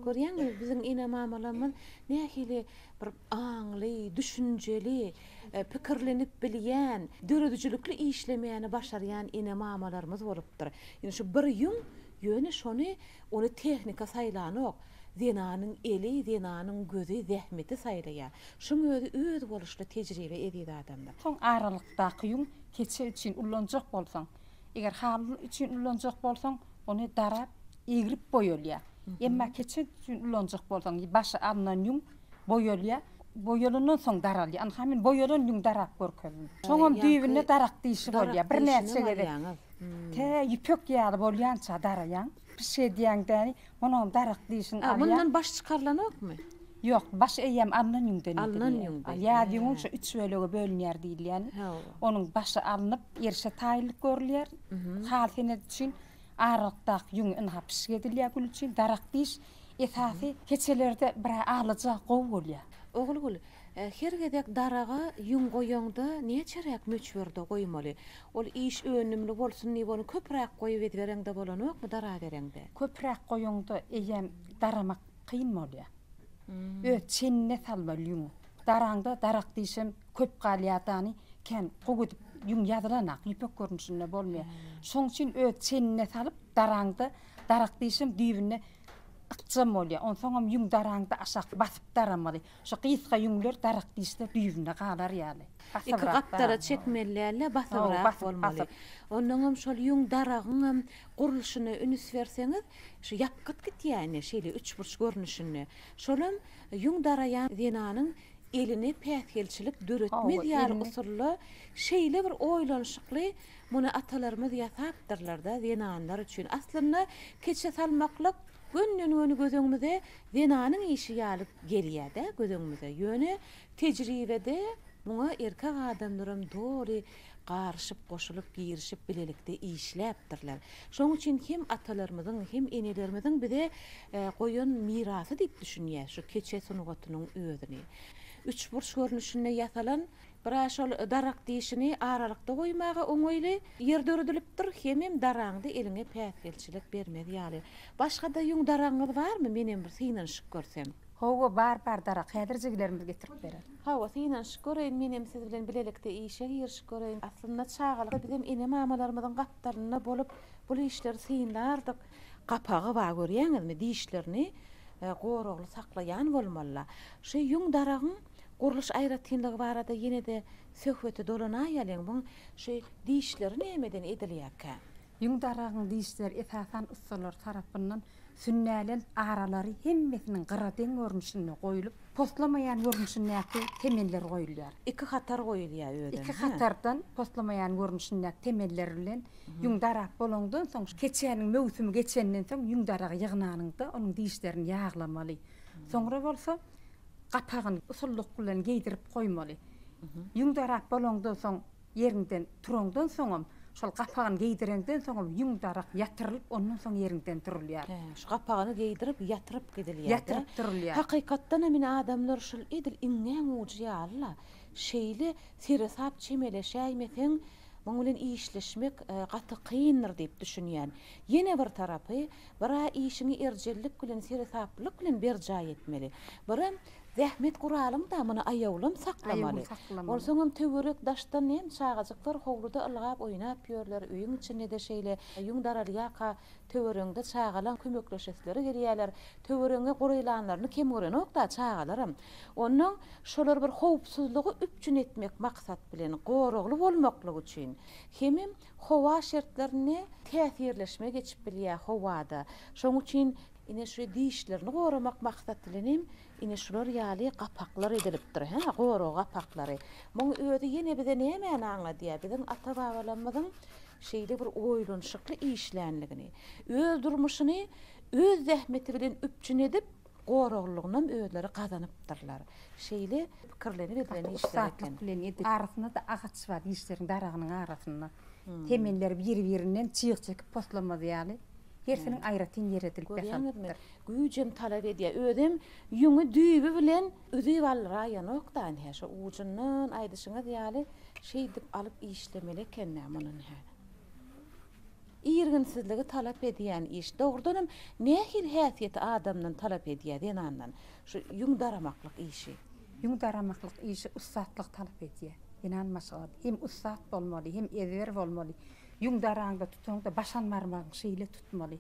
Görýäňmi biziň ene mamalarymyz nähili bir aňly, düşünjeli, pikirlenip bilýän, döredijilikli işlemäni başarýan ene mamalarymyz bolupdyr. Indi şu bir ýüň ýöne şony ony tehnika saýlanok. Zenanyň eli, zenanyň gözi, zähmeti saýlaýar. Şuň özi özboluşly tejribe eziz adamlar. Soň aralykdaky ýüň keçe üçin ullanjak bolsaň, eger haly üçin ullanjak bolsaň, ony darap, egrip boýalýar. Emma keçe üçin ullanjak bolsaň, başy alnan ýüň boýalýar, boýalandan soň daralýar. Anha men boýalan ýüň darap görkezdim. Şoňam düýbünde darak dişi bolýar. Birnäçe gezek tä ýüpek ýaly bolýança daraýaň. Bir şey diýýäň däni, onuňam darak diýişini alýa. Mundan baş çykarylanokmy? Ýok, baş eýýäm alnan ýüňden edilýär. Alnan ýüňden. Ýaz ýüňi şu üç bölege bölünýär diýilýän. Onuň başy alnyp, erişe taýynlyk görülýär. Haly senedi üçin aralykdaky ýüňi ynha pişik edilýär gül üçin. Darak diýiş esasy keçelerde birä alaja gowy bolýar. Ogulgül, her gezek daraga ýüň goýaňda näçeräk möçberde goýmaly? Ol iş önümli bolsun diýip ony köpüräk goýup ezbereňde bolanokmy darabereňde. Köpüräk goýuňda eýýäm daramak kyn bolýa. Öz çenine salmaly ýüňi. Daraňda darak diýşem köp galýa dany kän gowy edip ýüň ýazylanak ýüpek görnüşinde bolmaýa. Şoň üçin öz çenine salyp daraňda darak diýşem düýbüne ykjam bolýa. Onsoňam ýüň daraňda aşak basyp daramaly. Şu gysga ýüňler darak dişler düýbünde galar ýaly. Iki gapdala çekmeli däl-de, basybrak bolmaly. Onnoň hem şol ýüň daragyň hem gurluşyna ünüs berseňiz, şu ýapgyt gitýäni, şeýle üçburç görnüşinde. Şol hem ýüň daraýan zenanyň eline päsgelçilik döretmez ýaly usulda şeýle bir oýlanyşykly muny atalarymyz ýasapdyrlar-da zenanlar üçin. Aslynda keçe salmaklyk gönden-göni göz öňümize Zenanyň işi ýaly gelýär-dä göz öňümize, ýöne tejribede muňa erkek adamlaram doly garyşyp, goşulyp, girişip, bilelikde işläpdirler. Şonuň üçin hem atalarymyzyň, hem enelerimiziň bize goýan mirasy diýip düşünýäs şu keçe sungatynyň özüni. Üçburç görnüşinde ýasalan. Bira şol darak dişini aralykda goýmaga oňaýly ýer döredilipdir, hemem daraňda eliňe päsgelçilik bermez ýaly. Başga-da ýüň daragyňyz barmy, menem bir synanyşyp görsem? Hawa, bar, bar darak, häzir jigilerimiz getirip berer. Hawa, synanyşyp göreýin, menem siz bilen bilelikde işe girişip göreýin. Aslynda çagalykda bizem ene-mamalarymyzyň gapdalynda bolup, bul işleri synlardyk. Gapagy bar, görýäňizmi, dişlerini goragly saklaýan bolmaly-la. Şu ýüň daragyň Gurluş aýratynlygy barada ýene-de söhbete dolanaýalyň, muň şu dişleri nämeden edilýärkä? Ýüň dargagyň dişleri esasan ussalar tarapyndan sünnälent aralary hemmesiniň gyra deň görnüşinde goýlup, poslamaýan görnüşindäki temeller goýulýar. Iki hatar goýulýar özem. Iki hatardan poslamaýan görnüşindäki temeller bilen ýüň darap bolandan soň, keçäniň möwsümi geçenden soň ýüň daragy ýygnanyňda onuň dişlerini ýaglamaly. Soňra bolsa. gapagyny usullyk bilen geýdirip goýmaly. Ýüň darap bolaňdan soň, ýeriňden turaňdan soňam, şol gapagyny geýdireňden soňam ýüň darak ýatyrylyp, ondan soň ýeriňden turulýar. Hä, şu gapagyny geýdirip, ýatyryp gidilýär-de. Ýatyryp turulýar. Hakykatdan hem ine adamlar şol edil iňňäň ujy ýaly-la. Şeýle seresap çemeleşäýmeseň, Muň bilen işleşmek gaty kyndyr diýip düşünýän. Ýene bir tarapy, bir-ä işiňi erjellik bilen, seresaplylyk bilen berjaý etmeli. Birem, zähmet guralyň-da muny aýawlym saklamaly. Onsoňam töwerek-daşdan hem çagajyklar howluda ylgap oýnap ýörler, öýüň içinde-de şeýle. Ýüň daralýarka, töweregiňde çagalaň kömekleşesileri gelýärler. Töweregiňe golaýlanlaryny kem görenok-da çagalaram. Onda şolar bir howpsuzlygy üpjün etmek maksat bilen goragly bolmaklygy üçin hemem howa şertlerine täsirleşme geçip bilýär howada. Şonuň üçin ine şu dişlerini goramak maksat bilen hem ine şular ýaly gapaklar edilipdir hä, gorag gapaklary. Muň özi ýene bize nämäni aňladýar? Biziň ata-babalarymyzyň şeýle bir oýlanyşykly işlänligini, öz durmuşyny öz zähmeti bilen üpjün edip, goraglygynam özleri gazanypdyrlar. Şeýle pikirlenip edilen işler eken. Arasynda-da agaç bar işleriň daragynyň arasynda. Temelleri biri-birinden çyg çekip poslamaz ýaly, hersiniň aýratyn ýeri edilip ýasalypdyr. Güýjem talap edýär. Özem ýüňi düýbi bilen üzüp alraýanok-da ine, şo ujundan aýdyşyňyz ýaly şeýdip alyp işlemeli eken-dä muny ine. Irginsizligi talap edýän iş. Dogrudan hem nähili häsiýeti adamdan talap edýär, zenandan, şu ýüň daramaklyk işi? Ýüň daramaklyk işi ussatlyk talap edýär. Zenan maşgalasy hem ussat bolmaly, hem ezber bolmaly. Ýüň daraňda, tutaňda başan barmagyň şeýle tutmaly.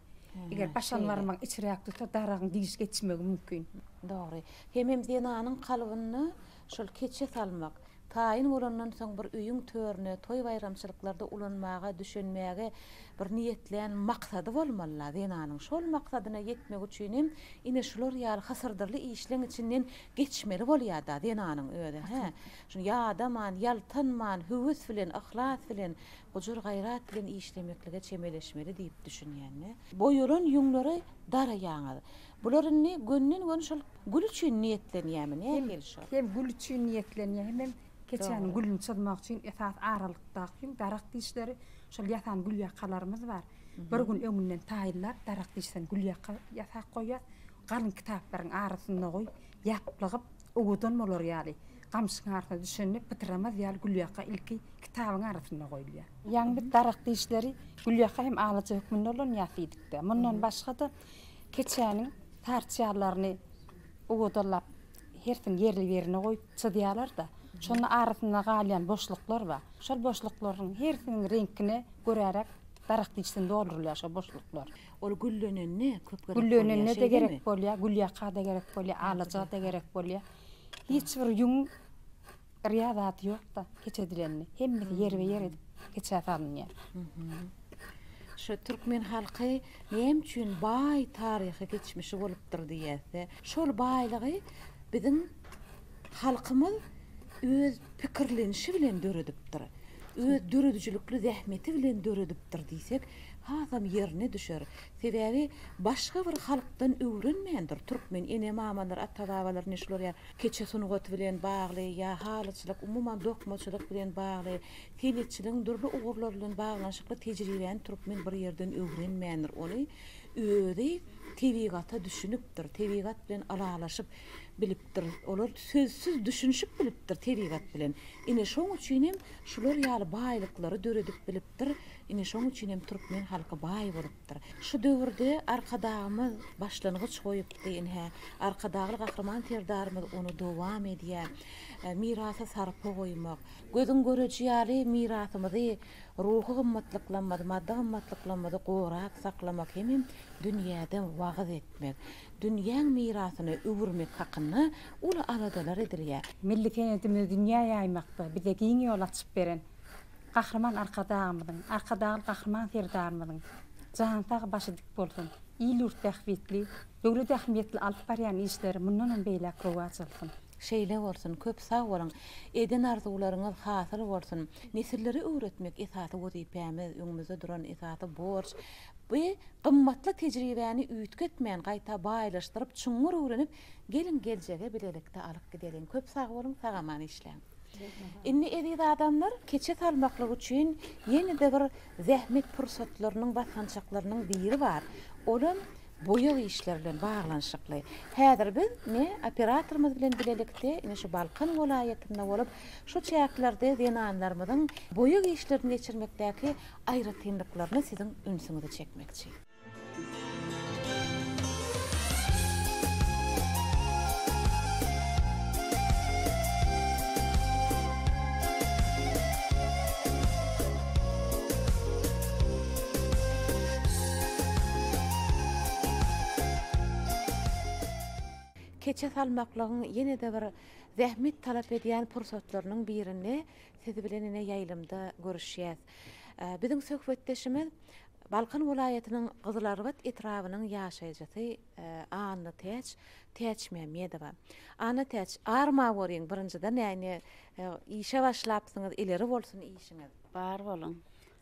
Eger başan barmagyň içiräk tutsa, daragyň diş geçmegi mümkin. Dogry. Hemem zenanyň kalbynda Şol keçe salmak, taýyn bolandan soň bir öýüň törüne toý-baýramçylyklarda ulanmaga, düşenmäge bir niýetlän maksady bolmaly-la zenanyň. Şol maksadyna ýetmek üçin hem ine şular ýaly hysyrdyrly işleň içinden geçmeli bolýar-da zenanyň özi, hä? Şuny ýadaman, ýaltanman, höwes bilen, yhlas bilen, gujur-gaýrat bilen işlemeklige çemeleşmeli diýip düşünýän-de. Boýalan ýüňleri daraýaňyz. Bular indi gönden-göni şol gül üçin niýetlenýärmi, näme gelişi ol? Hem gül üçin niýetlenýär, hemem keçäniň gülüni çyzmak üçin esasy aralykdaky hem daragt dişleri şol ýasan gülýakalarymyz bar. Bir gün öňünden taýynlap, daragt dişden gülýaka ýasap goýýas. Galyň kitaplaryň arasynda goýup, ýaplygyp, owadan bolar ýaly, gamşyň arasynda düşende pytyramaz ýaly gülýaka ilki kitabyň arasynda goýulýar. Ýaňy biz daragt dişleri gülýaka hem alaja hökmünde ulanýas diýdik-de. Mundan başga-da, Keçäniň parçalaryny owadalap, hersiň ýerli-ýerine goýup çyzýarlar-da, şonda arasynda galýan boşluklar bar. Şol boşluklaryň hersiniň reňkine göräräk daragt içini doldurylýar şol boşluklar. Ol güllenende köp gerek bolýar, şeýdemi? Güllenende-de gerek bolýar, gülýaka-da gerek bolýar, alaja-da gerek bolýar. Hiç bir ýüň Yrýa zat ýokda keç edilende hemmesi ýerbe ýer edip keçä salynýar. Şu türkmen halky näme üçin baý taryhy geçmişi bolupdyr diýäsde şol baýlygy biziň halkymyz öz pikirlenişi bilen döredipdir. Öz döredijilikli zähmeti bilen döredipdir diýsek hasam ýerine düşer. Sebäbi başga bir halkdan öwrenmändir, türkmen ene-mamalar, ata-babalar ne şular ýaly keçe sungaty bilen bagly ýa halyçylyk, umuman dokmaçylyk bilen bagly, senetçiligiň dürli ugurlary bilen baglanyşykly tejribäni türkmen bir ýerden öwrenmändir, ony özi tebigata düşünipdir, tebigat bilen ylalaşyp bilipdir, olar sözsüz düşünişip bilipdir tebigat bilen, ine şoň üçin hem şular ýaly baýlyklary döredip bilipdir, Ine şoň üçin hem türkmen halky baý bolupdyr. Şu döwürde Arkadagymyz başlangyç goýupdy, ine, Arkadagly Gahryman Serdarymyz ony dowam edýär. Mirasa sarpa goýmak, gözüň göreji ýaly mirasymyzy, ruhy gymmatlyklarymyzy, maddy gymmatlyklarymyzy gorap saklamak hemem dünýäde wagyz etmek, dünýäň mirasyna öwürmek hakynda uly aladalar edilýär. Milli senedimizi dünýä ýaýmakda bize giň ýol açyp beren Gahryman Arkadagymyzyň, Arkadagly Gahryman Serdarymyzyň jany sag, başy dik bolsun! Il-ýurt bähbitli, döwlet ähmiýetli alyp barýan işleri mundanam beýläk rowaç alsyn! Şeýle bolsun, köp sag boluň! Eden arzuwlaryňyz hasyl bolsun! Nesillere öwretmek esasy wezipämiz, öňümizde duran esasy borç. Bi gymmatly tejribäni üýtgetmän, gaýta baýlaşdyryp, çuňňur öwrenip, geliň geljege bilelikde alyp gideliň! Köp sag boluň, sag-aman işläň! Indi eziz adamlar keçe salmaklyk üçin ýene-de bir zähmet pursatlarynyň, basgançaklarynyň biri bar. Olam boýag işleri bilen baglanyşykly. Häzir biz ine operatorymyz bilen bilelikde ine şu Balkan welaýatynda bolup, şu çäklerde zenanlarymyzyň boýag işlerini geçirmekdäki aýratynlyklaryna siziň ünsüňizi çekmekçi. Keçe salmaklygyň ýene-de bir zähmet talap edýän pursatlarynyň birinde siz bilen ine ýaýlymda görüşýäs. Biziň söhbetdeşimiz Balkan welaýatynyň Gyzylarbat etrabynyň ýaşaýjysy Annatäç Täçmämmedowa. Annatäç, ar ma bolyň birinjiden ýany işe başlapsyňyz ileri bolsun işiňiz. Bar boluň.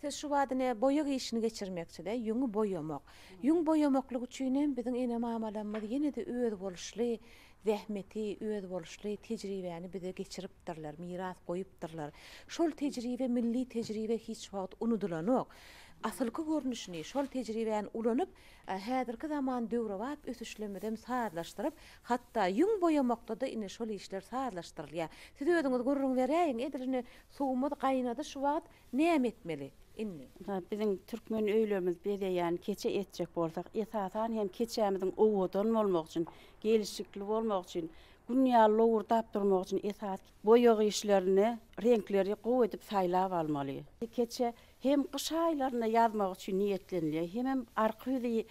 Siz şu bada ne boýag işini geçirmekçide ýüňi boýamak. Ýüň boýamaklyk üçinem biziň ene mamalarymyz ýene de özboluşly zähmeti, özboluşly tejribäni bize geçiripdirler, miras goýupdyrlar. Şol tejribe, milli tejribe hiç wagt unudylanok. Asylky görnüşini, şol tejribäni ulanyp, häzirki zaman döwrebap ösüşlemizem sazlaşdyryp, hatda ýüň boýamakda-da indi şol işler sazlaşdyrylýar. Siz özüňiz gürrüň beräýiň, edil indi suwumyz gaýnady şu wagt, Näme etmeli indi? Mysal, biziň türkmen öýlerimizi bezeýän keçe etjek bolsak, esasan hem keçämiziň owadan bolmagy üçin, gelşikli bolmagy üçin, Gün ýaly lowurdap durmagy üçin esas boýag işlerini, reňkleri gowy edip saýlap almaly. Keçe hem gyş aýlarynda ýazmak üçin niýetlenilýär, hemem arka ýüzi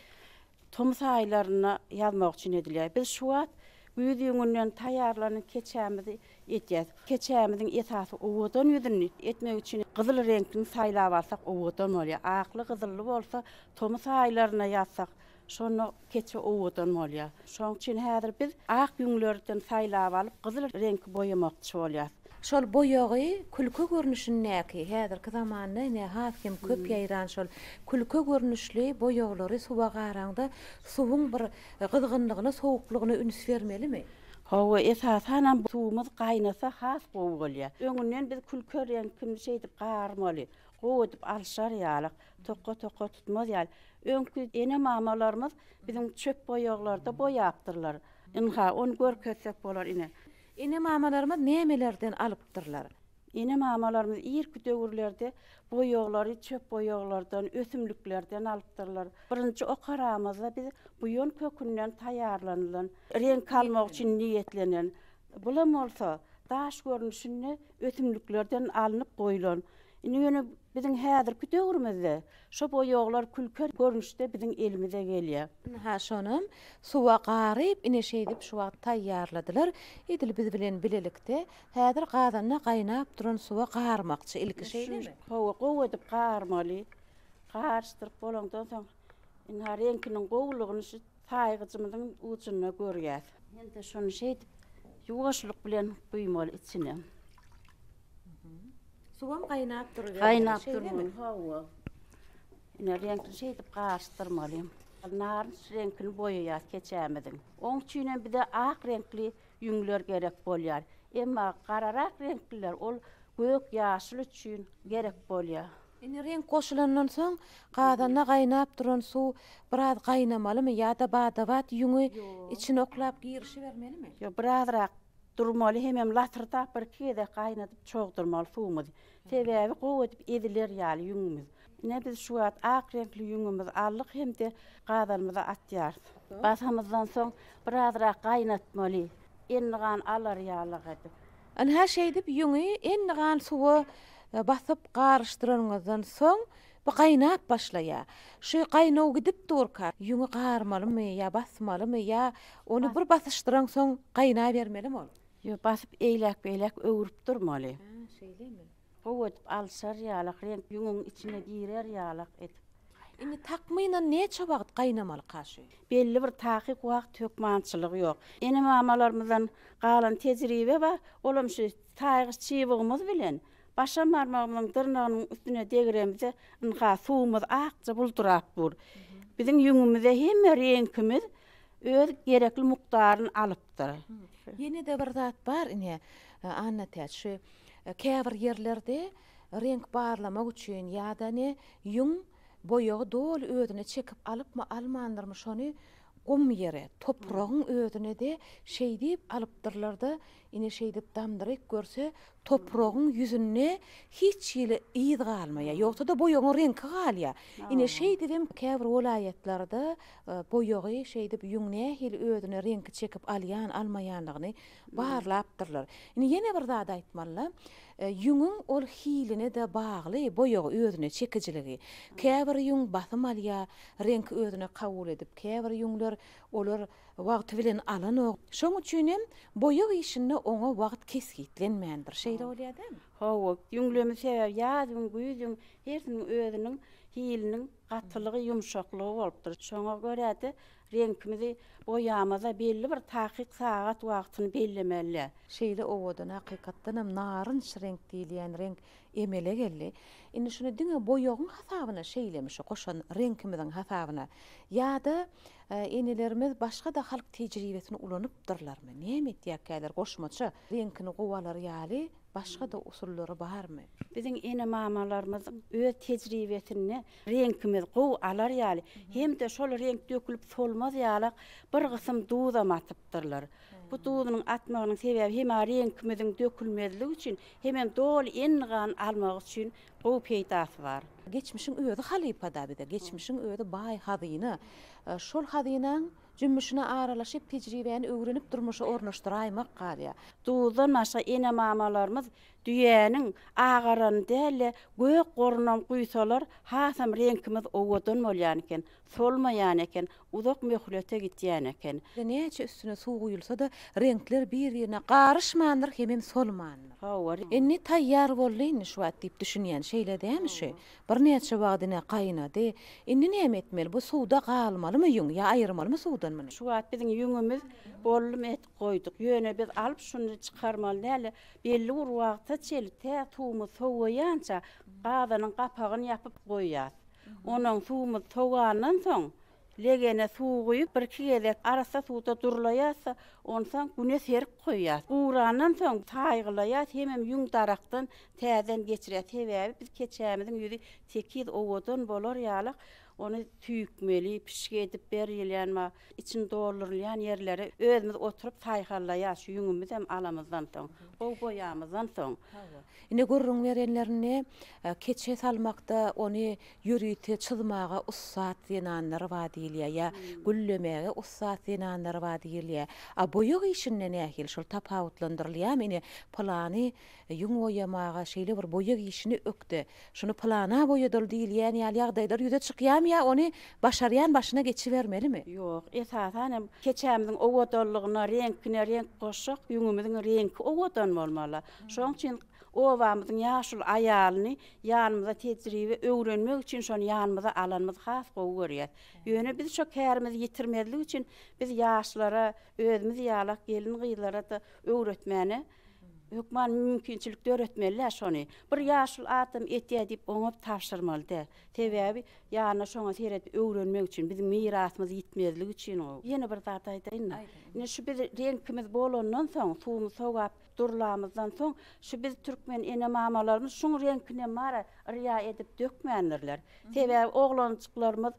Tomus aýlarynda ýazmak üçin edilýär. Biz şu wagt güýz ýüňünden taýýarlanan keçämizi edýäs. Keçämiziň esasy owadan ýüzüni etmek üçin gyzyl reňkini saýlap alsak owadan bolýar. Akly-gyzylly bolsa tomus aýlarynda ýazsak, şonda keçe owadan bolýar. Şonuň üçin häzir biz ak ýüňlerden saýlap alyp, gyzyl reňki boýamakçy bolýas. Şol boýagy külke görnüşindäki, häzirki zamanda ine has hem köp ýaýran şol külke görnüşli boýaglary suwa garaňda suwuň bir gyzgynlygyna, sowuklygyna üns bermelimi? Hawa, esasanam suwumyz gaýnasa has gowy bolýar. Öňünden biz külke reňkini şeýdip garmaly, gowy edip alşar ýalyk, toka-toka tutmaz ýaly. Öňki ene-mamalarymyz biziň çöp boýaglarda boýapdyrlar. Ynha, ony görkezsek bolar ine. Ene-mamalarymyz nämelerden alypdyrlar? Ene-mamalarymyz irki döwürlerde boýaglary çöp boýaglardan, ösümliklerden alypdyrlar. Birinji okaramyzda biz buýan kökünden taýýarlanylan, reňk almak üçin niýetlenen, bulam bolsa daş görnüşinde ösümliklerden alnyp goýlan. Indi ýöne Biziň häzirki döwrümizde şo boýaglar külker görnüşde biziň elimize gelýär. Ynha, şonam suwa garyp ine şeýdip şu wagt taýýarladylar. Edil biz bilen bilelikde häzir gazanda gaýnap duran suwa garmakçy. Ilki şeýdemi? Hawa, gowy edip garmaly. Garyşdyryp bolandan soň, ynha, reňkiniň gowulygyny şu Saýgyjymyzyň ujunda görýäs. Indi şony şeýdip ýuwaşlyk bilen guýmaly içine. Suwam gaýnap durubermeli, şeýlemi? Gaýnap durmaly, hawa. Ine reňkini şeýdip garyşdyrmaly. Narynç reňkini boýaýas keçämiziň. Oň üçin hem bize ak reňkli ýüňler gerek bolýar. Emma gararak reňkliler ol gök, ýaşyl üçin gerek bolýar. Indi reňk goşulandan soň gazanda gaýnap duran suw biraz gaýnamalymy ýa-da bada-bat ýüňi içine oklap girişibermelimi? Ýok, birazrak durmaly hemem latyrdap birki gezek gaýnadyp çogdurmaly suwumyzy. Sebäbi gowy edip eziler ýaly ýüňümiz. Ine biz şu wagt ak reňkli ýüňümizi aldyk hem-de gazanymyza atýarys. Basamyzdan soň birazrak gaýnatmaly, endigan alar ýalyk edip. Ynha şeýdip ýüňi endigan suwa basyp garyşdyranyňyzdan soň bu gaýnap başlaýar. Şu gaýnaw gidip durka ýüňi garmalymy ýa basmalymy ýa ony bir basyşdyransoň gaýnabermelimi ol? Ýok basyp eýläk beýläk öwrüp durmaly. Şeýlemi? Gowy edip alşar ýalak, reňk ýüňüň içine girer ýalak edip. Indi takmynan näçe wagt gaýnamaly kaşy? Belli bir takyk wagt hökmançylygy ýok. Ene-mamalarymyzdan galan tejribe bar, olam şu saýgyç çybygymyz bilen başam barmagymyzyň dyrnagynyň üstüne degremizde ynha suwumyz akja buldurap dur. Biziň ýüňümize hemme reňkimiz Öz gerekli mukdaryny alypdyr. Ýene-de bir zat bar ine, Annatäç, şu käbir ýerlerde reňk barlamak üçin ýa-da ne, ýüň boýagy doly özüne çekip alypmy, almandyrmy, şony gum ýere, topragyň özüne-de şeýdip alypdyrlar-da, Ine şeýdip damdyryp görse, topragyň ýüzünde hiç hili yz galmaýar, ýogsa-da boýagyň reňki galýar. Ine şeýdibem käbir welaýatlarda boýagy şeýdip ýüň nähili özüne reňki çekip alýan, almaýandygyny barlapdyrlar. Indi ýene bir zat aýtmaly-la, ýüňüň ol hiline-de bagly boýagy özüne çekijiligi. Käbir ýüň basym alýar, reňki özüne kabul edip, käbir ýüňler olar Wagty bilen alanok. Şoň üçinem boýag işinde oňa wagt kesgitlenmändir. Şeýle bolýar dämi? Hawa, ýüňleme sebäbi ýazyň, güýzüň hersiniň özüniň hiliniň gatylygy, ýumşaklygy bolupdyr. Şoňa görä-de, reňkimizi boýamaz-a belli bir takyk sagat wagtyny bellemeli. Şeýle owadan, hakykatdan hem narynç reňk diýilýän reňk emele geldi. Indi şuny diňe boýagyň hasabyna şeýlemi, şu goşan reňkimiziň hasabyna ýa-da Enelerimiz başga-da halk tejribesini ulanypdyrlarmy? Näme etýärkäler? Goşmaça reňkini gowalar ýaly başga-da usullary barmy? Biziň ene-mamalarymyzyň öz tejribesinde reňkimiz gowy alar ýaly hem-de şol reňk dökülip solmaz ýalak bir gysym duzam atypdyrlar. Bu duzunyň atmagynyň sebäbi hem-ä reňkimiziň dökülmezligi üçin, hemem doly enli gan almagy üçin Gowy peýdasy bar. Geçmişiň özi halypa-da bize, geçmişiň özi baý hazyna. Şol hazynaň jümmüşine aralaşyp, tejribäni öwrenip durmuşa ornaşdyraýmak galýar. Duzdan başga ene-mamalarymyz düýäniň agaranyny däl-de, gök gorunam guýsalar, hasam reňkimiz owadan bolýan eken, solmaýan eken, Uzak möhlete gitýän eken. Näçe üstüne suw guýulsa-da, reňkler bir-birine garyşmandyr hemem solmandyr. Hawa. Indi taýýar boldy indi şu wagt diýip düşünýän, şeýle dämi şu? Birnäçe wagt ine gaýnady. Indi näme etmeli? Bu suwda galmalymy ýüň? Ýa aýyrmalymy suwdan muny? Şu wagt biziň ýüňümiz boldum et goýduk. Ýöne biz alyp şuny çykarmaly däl-de, belli bir wagta çenli tä suwumyz sowaýança gazanyň gapagyny ýapyp goýýas. Onuň suwumyz sowandan soň, legene suw guýup, birki gezek arassa suwda durlaýarsa, onsoň güne serik goýýarys. Gurandan soň saýgylaýarys, hemem ýüň darakdan täzeden geçirýäris. Sebäbi biz keçämiziň ýüzi tekiz, owadan bolar ýaly ony süýkmeli, pişik edip berýilýän bar. Içini doldurylýan ýerleri özümiz oturyp saýhallaýas şu ýüňümizem alamyzdan soň, gowy boýamyzdan soň. Hawa. Ine gürrüň berenlerinde keçe salmakda ony ýörite çyzmaga ussat zenanlar bar diýilýär ýa güllemäge ussat zenanlar bar diýilýär. A boýag işinde nähili şol tapawutlandyrylýarmy ine pylany ýüň boýamaga şeýle bir boýag işini ökde Şuny pylana boýadyl diýilýän ýaly ýagdaýlar ýüze çykýamy ýa ony başarýan başyna geçibermelimi? Ýok, esasan hem keçämiziň owadanlygyna reňkine reňk goşjak ýüňümiziň reňki owadan bolmaly. Şoň üçin obamyzyň ýaşuly aýalyny ýanymyza tejribe öwrenmek üçin şony ýanymyza alanymyzy has gowy görýäs. Ýöne biz şo kärimizi ýitirmezlik üçin biz ýaşlara özümiz ýalak gelin-gyzlara-da öwretmäne Hökman mümkinçilik döretmeli-dä şony. Bir ýaşuly adam etýär diýip oňa tabşyrmaly-dä. Sebäbi ýanyna şoňa seredip öwrenmek üçin, biziň mirasymyz ýitmezlik üçin o. Ýene bir zat aýdaýyn-da. Indi şu biz reňkimiz bolandan soň, suwumyzy sogap durlamyzdan soň, şu biz türkmen ene-mamalarymyz şuň reňkinem bara yrýa edip dökmändirler. Sebäbi oglanjyklarymyz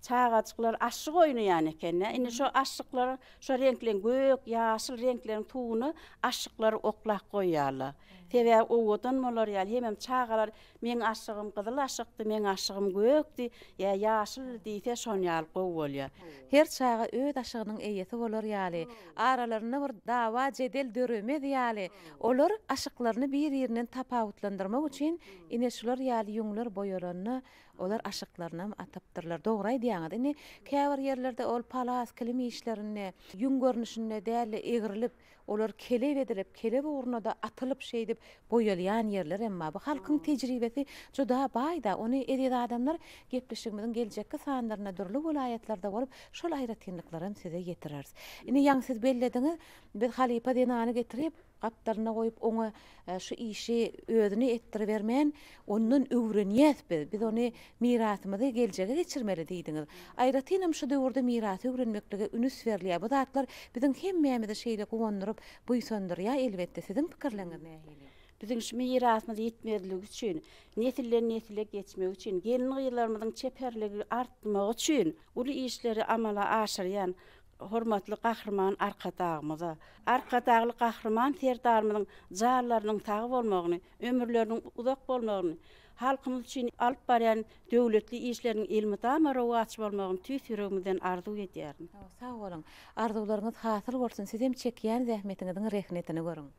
Çagajyklar aşyk oýnaýan ekeni. Indi şo aşyklar şo reňkleň gök, ýaşyl reňkleriň tuguny aşyklar oklap goýýarlar. Sebäbi owadan bolar ýaly. Hemem çagalar meň aşygym gyzyl aşykdy, meň aşygym gökdi, ýa ýaşyldy diýse şon ýaly gowy bolýar. Her çaga öz aşygynyň eýesi bolar ýaly, aralarynda bir dawa-jedel döremez ýaly, olar aşyklaryny bir-irinden tapawutlandyrmak üçin ine şular ýaly ýüňler boýalanda Olar aşyklarynam atapdyrlar. Dogry aýdýaňyz. Indi käbir ýerlerde ol palas, kilim işlerinde, ýüň görnüşinde däl-de, egrilip, olar kelep edilip, kelep ugruna-da atylyp, şeýdip, boýalýan ýerler hem bar. Bu halkyň tejribesi juda baý-da. Ony eziz adamlar gepleşigimiziň geljekki sanlarynda dürli welaýatlarda bolup, şol aýratynlyklaram size ýetireris. Indi ýaňy siz bellediňiz, biz halypa zenany getirip, Gapdalyna goýup, oňa şu işi özüne etdiribermän, ondan öwrenýäs biz, biz ony mirasymyzy geljege geçirmeli diýdiňiz. Aýratynam şu döwürde mirasy öwrenmeklige ünüs berilýär. Bu zatlar biziň hemmämizi şeýle guwandyryp, buýsandyrýar elbetde. Siziň pikirleriňiz nähili? Biziň şu mirasymyz ýitmezligi üçin, nesilden nesile geçmegi üçin, gelin-gyzlarymyzyň çeperligi artmagy üçin uly işleri amala aşyrýan Hormatly Gahryman Arkadagymyza, Arkadagly Gahryman Serdarymyzyň janlarynyň sag bolmagyny, ömürleriniň uzak bolmagyny, halkymyz üçin alyp barýan döwletli işleriniň elmydama rowaç bolmagyny tüýs ýüregimizden arzuw edýärin. Sag boluň. Arzuwlaryňyz hasyl bolsun, sizem çekýän zähmetiňiziň rehnetini görüň.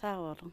Sag boluň.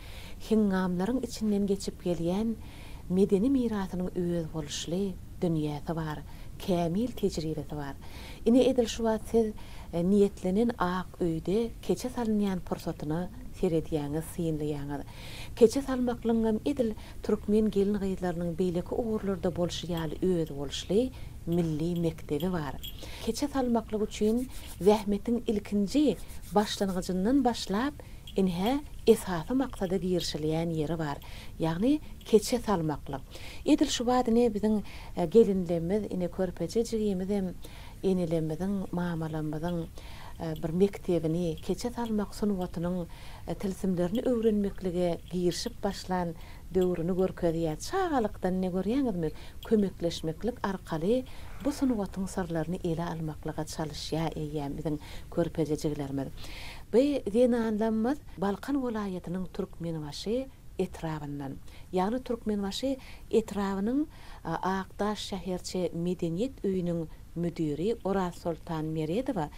heňňamlaryň içinden geçip gelýän medeni mirasynyň özboluşly dünýäsi bar, kämil tejribesi bar. Ine, edil şu wagt siz niýetlenen ak öýde keçe salynýan pursatyna seredýäňiz, synlaýaňyz. Keçe salmaklygyňam edil türkmen gelin-gyzlarynyň beýleki ugurlarda bolşy ýaly özboluşly milli mekdebi bar. Keçe salmaklyk üçin zähmetiň ilkinji başlangyjyndan başlap, Ine, esasy maksada girişilýän ýeri bar. Ýagny keçe salmaklyk. Edil şu bada ine biziň gelinlemmiz, ine körpeje jigimizem enelemmiziň, mamalamyzyň bir mekdebini, keçe salmak sungatynyň tilsimlerini öwrenmeklige girişip başlan döwrüni görkezýär. Çagalykdan ine görýäňizmi, kömekleşmeklik arkaly bu sungatyň syrlaryny ele almaklyga çalyşýar eýýäm biziň körpejejiglerimiz. Bi zenanlamyz Balkan welaýatynyň Türkmenbaşy etrabyndan, ýagny Türkmenbaşy etrabynyň Akdaş şäherçe medeniýet öýüniň müdiri Orazsoltan Meredowa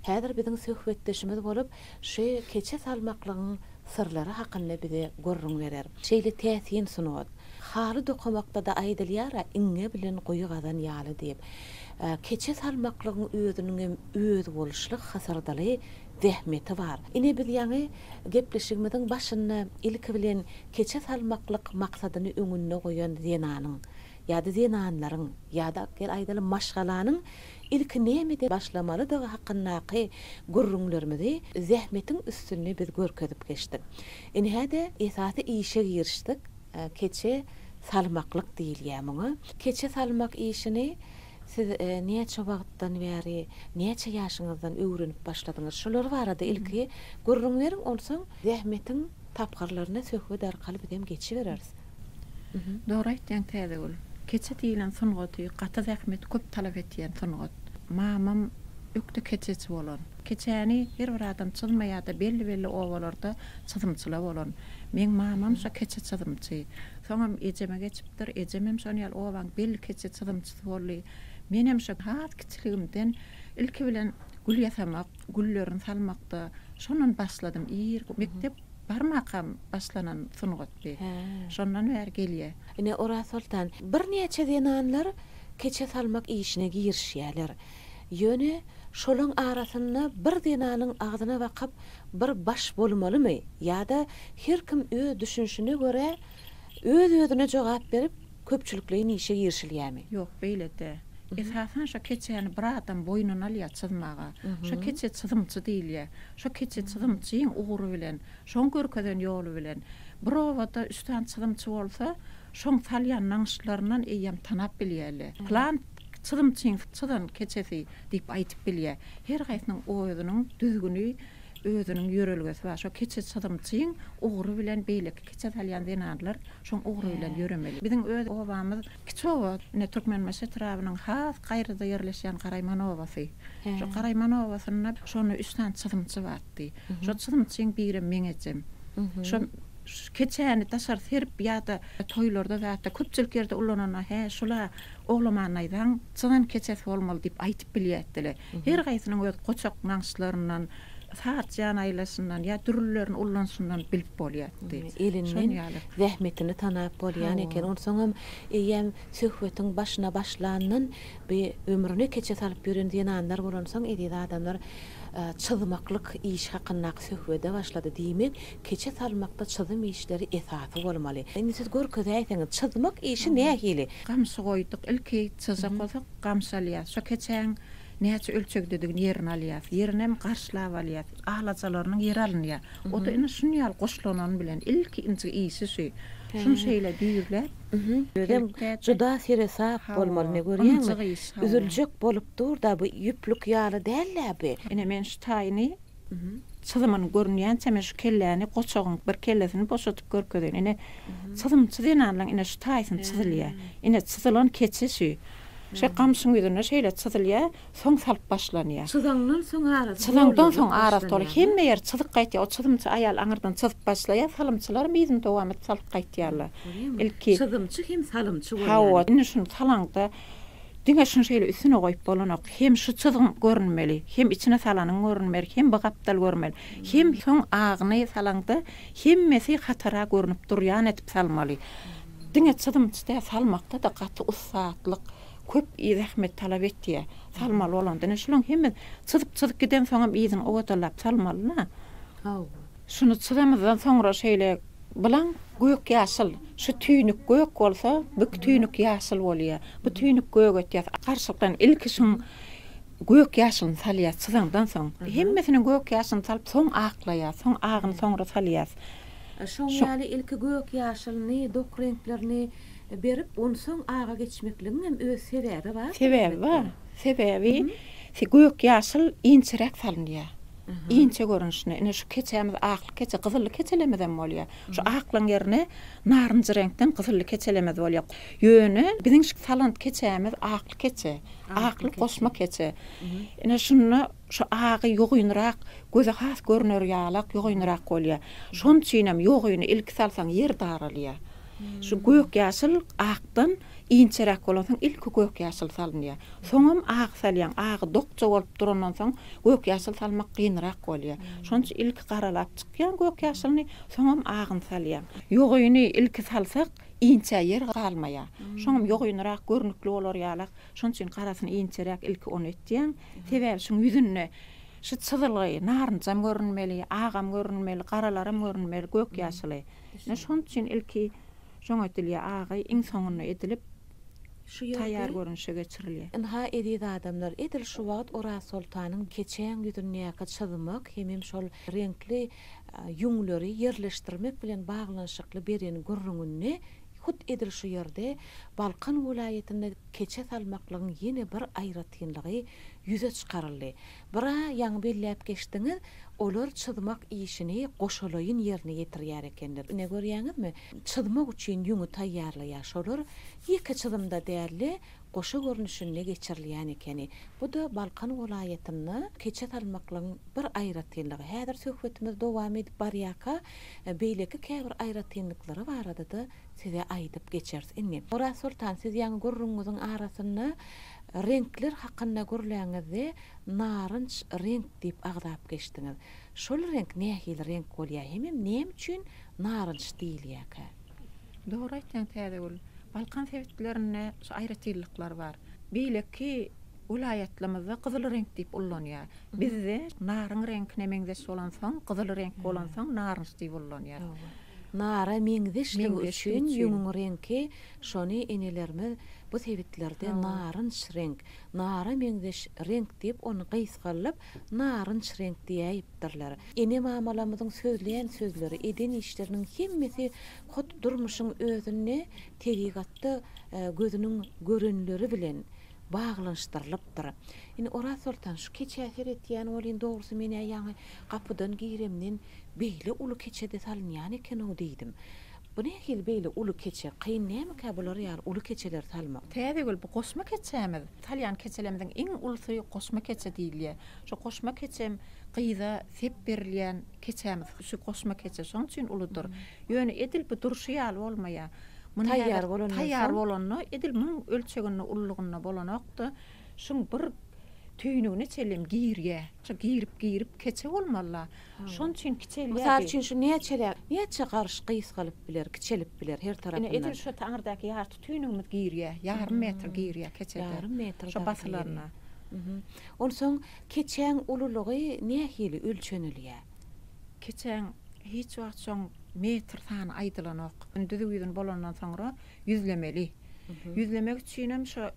häzir biziň söhbetdeşimiz bolup, şu keçe salmaklygyň syrlary hakynda bize gürrüň berer. Şeýle täsin sungat. Haly dokamakda-da aýdylýar-a, iňňe bilen guýy gazan ýaly diýip. Keçe salmaklygyň özüniňem özboluşly hysyrdyly zähmeti bar. Ine biz ýaňy gepleşigimiziň başynda ilki bilen keçe salmaklyk maksadyny öňünde goýan zenanyň, ýa-da zenanlaryň, ýa-da gel aýdalyň maşgalanyň ilki nämeden başlamalydygy hakyndaky gürrüňlerimizi zähmetiň üstünde biz görkezip geçdik. Ine hä-de esasy işe girişdik. Keçe salmaklyk diýilýär muňa. Keçe salmak işini Siz näçe wagtdan bäri, näçe ýaşyňyzdan öwrenip başladyňyz? Şolar barada ilki gürrüň beriň, onsoň zähmetiň tapgyrlaryna söhbet arkaly biz hem geçibereris. Dogry aýtýaň Täzegül. Keçe diýilen sungaty gaty zähmet köp talap etýän sungat. Mamam ökde keçeçi bolan. Keçäni her bir adam çyzmaýarda belli-belli obalarda çyzymçyla bolan. Meň mamam şo keçe çyzymçy. Soňam ejeme geçip ýaşapdyr. Ejemem şon ýaly obaň belli keçe çyzymçysy boldy. Menem şo has kiçiligimden ilki bilen gül ýasamak, güllerini salmakda şondan başladym. Irki mekdep barmakam başlanan sungatdy. Şondan bäri gelýä. Ine, Orazsoltan, birnäçe zenanlar keçe salmak işine girişýärler. Ýöne şolaň arasynda bir zenanyň agzyna bakyp bir baş bolmalymy ýa-da her kim öz düşünişine görä Öz-özüne jogap berip, köpçülikleýin işe girişilýämi? Ýok, beýle däl. Esasan şo keçäni bir adam boýnuna alýar çyzmaga. Şo keçe çyzymçy diýilýär. Şo keçe çyzymçyň ugry bilen, şoň görkezen ýoly bilen. Bir obada üç sany çyzymçy bolsa, şoň salýan nagyşlaryndan eýýäm tanap bilýärler. Pylan çyzymçyň çyzan keçesi diýip aýdyp bilýär. Her haýsynyň özüniň düzgüni, özüniň ýörelgesi bar. Şo keçe çyzymçyň ugry bilen beýleki. Kiçe salýan zenanlar şoň ugry bilen ýöremeli. Biziň öz obamyz kiçi oba, ine Türkmenbaşy etrabynyň has gaýrada ýerleşýän Garaýman obasy. Şo Garaýman obasynda şonda üç sany çyzymçy bardy. Şo çyzymçyň birem meň ejem. Şo keçäni daşary serip ýa-da toýlarda zatda köpçülik ýerde ulananda, hä şul-a oglamannaýzaň çyzan keçesi bolmaly diýip aýdyp bilýärdiler. Her haýsynyň öz goçak nagyşlaryndan, saz jan aýlaşyndan ýa dürlülerini ullanyşyndan bilip bolýardy. Elinden zähmetini tanap bolýan eken. Onsoňam eýýäm söhbetiň başyna başlandan bi ömrüni keçe salyp ýören zenanlar bolansoň eziz adamlar çyzmaklyk iş hakyndaky söhbede başlady. Diýmek, Keçe salmakda çyzym işleri esasy bolmaly. Indi siz görkezäýseňiz, çyzmak işi nähili? Gamşy goýduk. Ilki çyzjak bolsak, gamşy alýas. Şo keçäň näçe ölçegdedigini ýerini alýas. Ýerinem garşlap alýas. Alajalarynyň ýeri alynýa. O-da ine şun ýaly goşlanan bilen. Ilki inji işi şu. Şuny şeýle düýrläp, Özem juda seresap bolmaly. Ine görýäňmi? Üzüljek bolup dur-da, bu ýüplük ýaly däl-ä bu. Ine men şu taýyny Çyzymyny görünýänçä men şu kelläni goçagyň bir kellesini boşadyp görkezeýin. Ine, çyzymçy zenanlaň ine şu taýsyny çyzylýar. Ine, çyzylan keçe şu. Şu gamşyň ýüzüne şeýle çyzylýar, soň salyp başlanýar. Çyzaňdan soň arasy Çyzaňdan soň arasy doly. Hemme ýeri çyzyk gaýtýar. O çyzymçy aýal aňyrdan çyzyp başlaýar, salymçylaram yzyny dowam edip salyp gaýtýarlar. Ilki. Çyzymçy hem salymçy bolýar. Hawa, indi şuny salaňda. Diňe şuny şeýle üstüne goýup bolanok. Hem şu çyzgyň görünmeli, hem içine salanyň görünmeli, hem bu gapdal görünmeli, hem soň agyny salaňda hemmesi hatara görünip durýan edip salmaly. Diňe çyzymçy däl, salmakda-da gaty ussatlyk, köp zähmet talap etýär. Salmaly bolanda, ine şularyň hemmesi çyzyp-çyzyp gidensoňam yzyny owadalap salmaly-da. Hawa. Şuny çyzamyzdan soňra şeýle bilaň. Gök ýaşyl. Şu tüýnük gök bolsa, bük tüýnük ýaşyl bolýar. Bu tüýnük gök etýär. Garşylykdan ilki şuň gök ýaşylyny salýar çyzaňdan soň. Hemmesiniň gök ýaşylyny salyp soň aklaýar. Soň agyny soňra salýar. Şoň ýaly ilki gök ýaşylyny, dok reňklerini berip on soň aga geçmekligiň hem öz sebäbi bar. Sebäbi bar. Sebäbi gök ýaşyl inçeräk salynýar. inçe görnüşini, ine, şu keçämiz aklyk keçe, gyzylly keçelemizem bolýar. Şu aklygyň ýerine narynjy reňkden gyzylly keçelemez bolýar. Ýöne biziň şu salant keçämiz aklyk keçe, aklyk goşma keçe. Ine, şunda şu agy ýogynrak, göze has görner ýalak, ýogynrak bolýar. Şon üçinem ýogyny ilki salsaň ýer daralýar. Şu gök-ýaşyl akdan Inçeräk bolansoň ilki gök-ýaşyl salynýar. Soňam agy salýaň. Agy dokja bolup durandan soň gök-ýaşyl salmak gynyrak bolýar. Şonuň üçin ilki garalap çykýan gök-ýaşylyny, soňam agyny salýaň. Ýogyny ilki salsak, inçä ýer galmaýar. Şoňam ýogynyrak, görnükli bolar ýalak. Şonuň üçin garasyny inçeräk ilki ony etýäň. Sebäbi şuň ýüzünde şu çyzylgy, narynjam görünmeli, agam görünmeli, garalaram görünmeli, gök-ýaşyly. Ine şonuň üçin ilki Şoň edilýä agy iň soňunda edilip Şu ýerde taýýar görünişe geçirilýä. Ynha eziz adamlar edil şu wagt Orazsoltanyň keçäň ýüzündäki çyzmak hemem şol reňkli ýüňleri ýerleşdirmek bilen baglanyşykly beren gürrüňinde hut edil şu ýerde Balkan welaýatynda keçe salmaklygyň ýene bir aýratynlygy ýüze çykaryldy. Bir-ä ýaňy belläp geçdiňiz, olar çyzmak işini goşalaýyn ýerine ýetirýär ekenler. Ine, görýäňizmi, çyzmak üçin ýüňi taýýarlaýar. Şolar ýeke çyzymda däl-de, goşa görnüşinde geçirilýän ekeni. Bu-da Balkan welaýatynda keçe salmaklygyň bir aýratynlygy. Häzir söhbetimiz dowam edip barýarka, beýleki käbir aýratynlyklary barada-da size aýdyp geçeris. Indi, Oraz soltan, siz ýaňy gürrüňiňiziň arasynda Reňkler hakynda gürläňizde narynç reňk diýip agzap geçdiňiz. Şol reňk nähili reňk bolýar hemem näme üçin narynç diýilýärkä? Dogry aýtýaň Täzegül. Balkan sebitlerinde şu aýratynlyklar bar. Beýleki welaýatlamyzda gyzyl reňk diýip ullanýar. Bizde naryň reňkine meňzeş bolansoň, gyzyl reňk bolansoň narynç diýip ullanýar. Nara meňzeşligi üçin ýüňüň reňki şony enelerimiz bu sebitlerde narynç reňk, nara meňzeş reňk diýip ony gysgaldyp narynç reňk diýäýipdirler. Ene-mamalarymyzyň sözleýän sözleri, eden işleriniň hemmesi hut durmuşyň özünde tebigatda gözüniň görenleri bilen baglanyşdyrylypdyr. Indi Orazsoltan şu keçä seretýän welin dogrusy men-ä ýaňy gapydan giremden beýle uly keçe-de salynýan eken-ow diýdim. Bu nähili beýle uly keçe, kyn nämekä bular ýaly uly keçeleri salmak? Täzegül, bu goşma keçämiz. Salýan keçelerimiziň iň ulusy goşma keçe diýilýär. Şu goşma keçem gyza sep berilýän keçämiz. Şu goşma keçe şonuň üçin uludyr. Ýöne edil bu durşy ýaly bolmaýar. Muny häzir taýýar bolanda edil munuň ölçeginde, ululygynda bolanok-da, şuň bir tüýnügine çenlem girýä. Şo girip-girip keçe bolmaly-la. Şoň üçin kiçelýär. Mysal üçin şu näçe, näçe garyş gysgalyp biler, kiçelip biler her tarapyndan. Ine edil şo taňyrdaky ýarty tüýnügimiz girýä, ýarym metr girýä keçede. Ýarym metr dagy girýä. Onsoň keçäň ululygy nähili ölçenilýä? Keçäň hiç wagt şoň metr sany aýdylanok. Düzüw ýüzüni bolandan soňra ýüzlemeli. Ýüzlemek üçinem şo.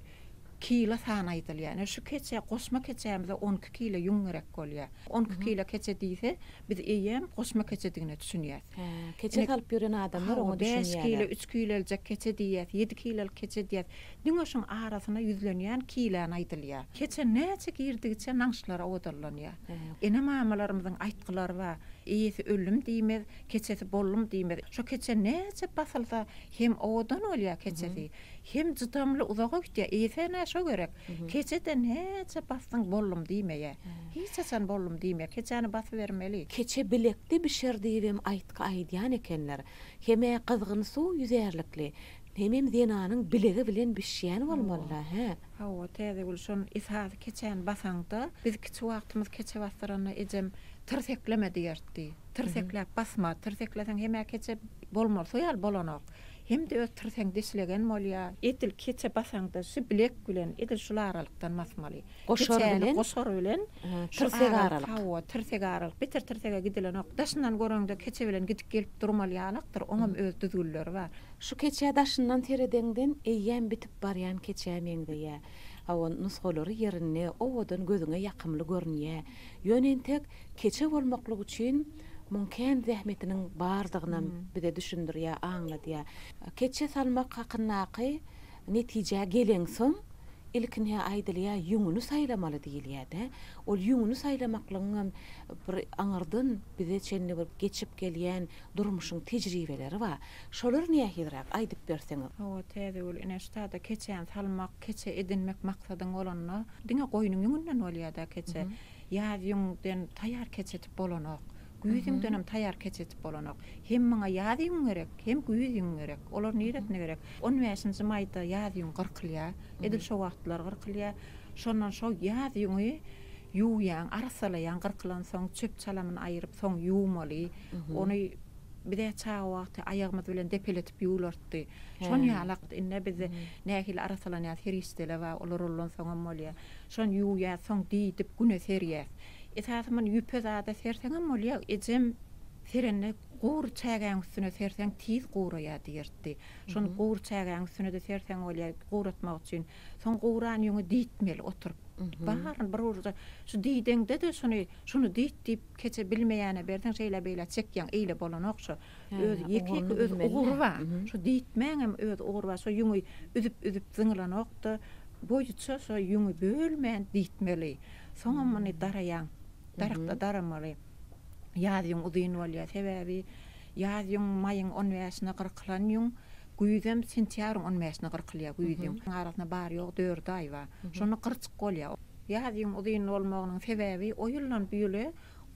kilo sany aýdylýar. Ine, şu keçe, goşma keçämize on iki kilo ýüň gerek bolýar. On iki kilo keçe diýse, biz eýýäm goşma keçedigine düşünýäs. Hä, keçe salyp ýören adamlar oňa düşünýärler. Bäş kilo, üç kilo aljak keçe diýýäs, ýedi kilolyk keçe diýýäs. Diňe şuň arasyna ýüzlenýän kilony aýdylýar. Keçe näçe girdigiçe naňşlara owadanlanýar. Ene-mamalarymyzyň aýtgylary bar, Eýesi öldüm diýmez, keçesi boldum diýmez. Şo keçe näçe basylsa hem owadan bolýar keçesi. Hem jydamly uzaga gitýä eýsene şo gerek keçeden näçe basdyň bollum diýmeýä hiç haçan bollum diýmeýä keçäni basybermeli. Keçe bilekde bişer diýibem aýtgy aýdýan ekenler. Hemä gyzgyn suw ýüzärlikli. Hemem zenanyň bilegi bilen bişýän bolmalyda hä. Hawa Täzegül şon esasy keçäni basaňda biz kiçi wagtymyz keçe basdyranda ejem tirsekleme diýertdi. Tirsekläp basma tirsekleseň hemä keçe bolmaly şo ýaly bolanok. Hem-de öz tirseň dişlegen bolýar. Edil keçe basaňda şu bilek bilen edil şul aralykdan basmaly. Goşar bilen? Goşar bilen. Tirsek aralyk. Hawa, tirsek aralyk. Beter tirsege gidilenok. Daşyndan göreňde keçe bilen gidip gelip durmaly ýalakdyr. Oňam öz düzgünleri bar. Şu keçä daşyndan seredeňden eýýäm bitip barýan keçä meňzeýä. Hawa, nusgalary ýerinde, owadan gözüňe ýakymly görünýä. Ýöne entek keçe bolmaklyk üçin. Muň kän zähmetiniň bardygynam bize düşündirýär, aňladýar. Keçe salmak hakyndaky netijä geleňsoň, ilkinä aýdylýar, ýüňüni saýlamaly diýilýär-dä. Ol ýüňüni saýlamaklygyňam bir aňyrdan bize çenli bir geçip gelýän durmuşyň tejribeleri bar. Şolar nähiliräk, aýdyp berseňiz? Hawa, Täzegül ine, ştada keçäni salmak, keçe edinmek maksadyň bolanda, diňe goýnuň ýüňünden bolýar-da keçe. Ýaz ýüňden taýýar keç etip bolanok. Güýz ýüňdenem taýýar keç etip bolanok. Hem muňa ýaz ýüňi gerek, hem güýz ýüňi gerek. Olar niresine gerek? On bäşinji maýda ýaz ýüňi gyrkylýar. Edil şo wagtlar gyrkylýar. Şondan şo ýaz ýüňi ýuwýaň, arassalaýaň gyrkylansoň, çöp-çalamyny aýyryp, soň ýuwmaly. Ony biz-ä çaga wagty aýagymyz bilen depeletip ýuwlartdy. Şon ýalak. Indi-ä biz nähili arassalanýarys, her işdele bar, olar olansoňam bolýar. Şony ýuwýas, soň diýdip güne serýäs. Esasy muny ýüpe zada serseňem bolýa, ejem serende gury çägäň üstüne serseň tiz guraýa diýertdi. Şony gury çägäň üstüne-de serseň bolýa, guratmak üçin. Soň guran ýüňi diýtmeli oturyp. Baryny bir urda şu diýdeňde-de şony, şuny diýt diýip keçe bilmeýäne berseň şeýle-beýle çekýäň, eýle bolanok şu. Öz ýeke-ýeke öz ugury bar. Şo diýtmäň hem öz ugry bar. Şo ýüňi üzüp-üzüp zyňlanok-da, boýuça şo ýüňi bölmän diýtmeli. Soňam muny daraýaň. Darykda daramaly. Ýaz ýüň uzyn bolýar. Sebäbi ýaz ýüň maýyň on bäşine gyrkylan ýüň, güýzem sentýabryň on bäşine gyrkylýar güýz ýüň. Arasynda bary-ýogy dört aý bar. Şonda gyrçyk bolýar. Ýaz ýüň uzyn bolmagynyň sebäbi o ýyldan bu ýyla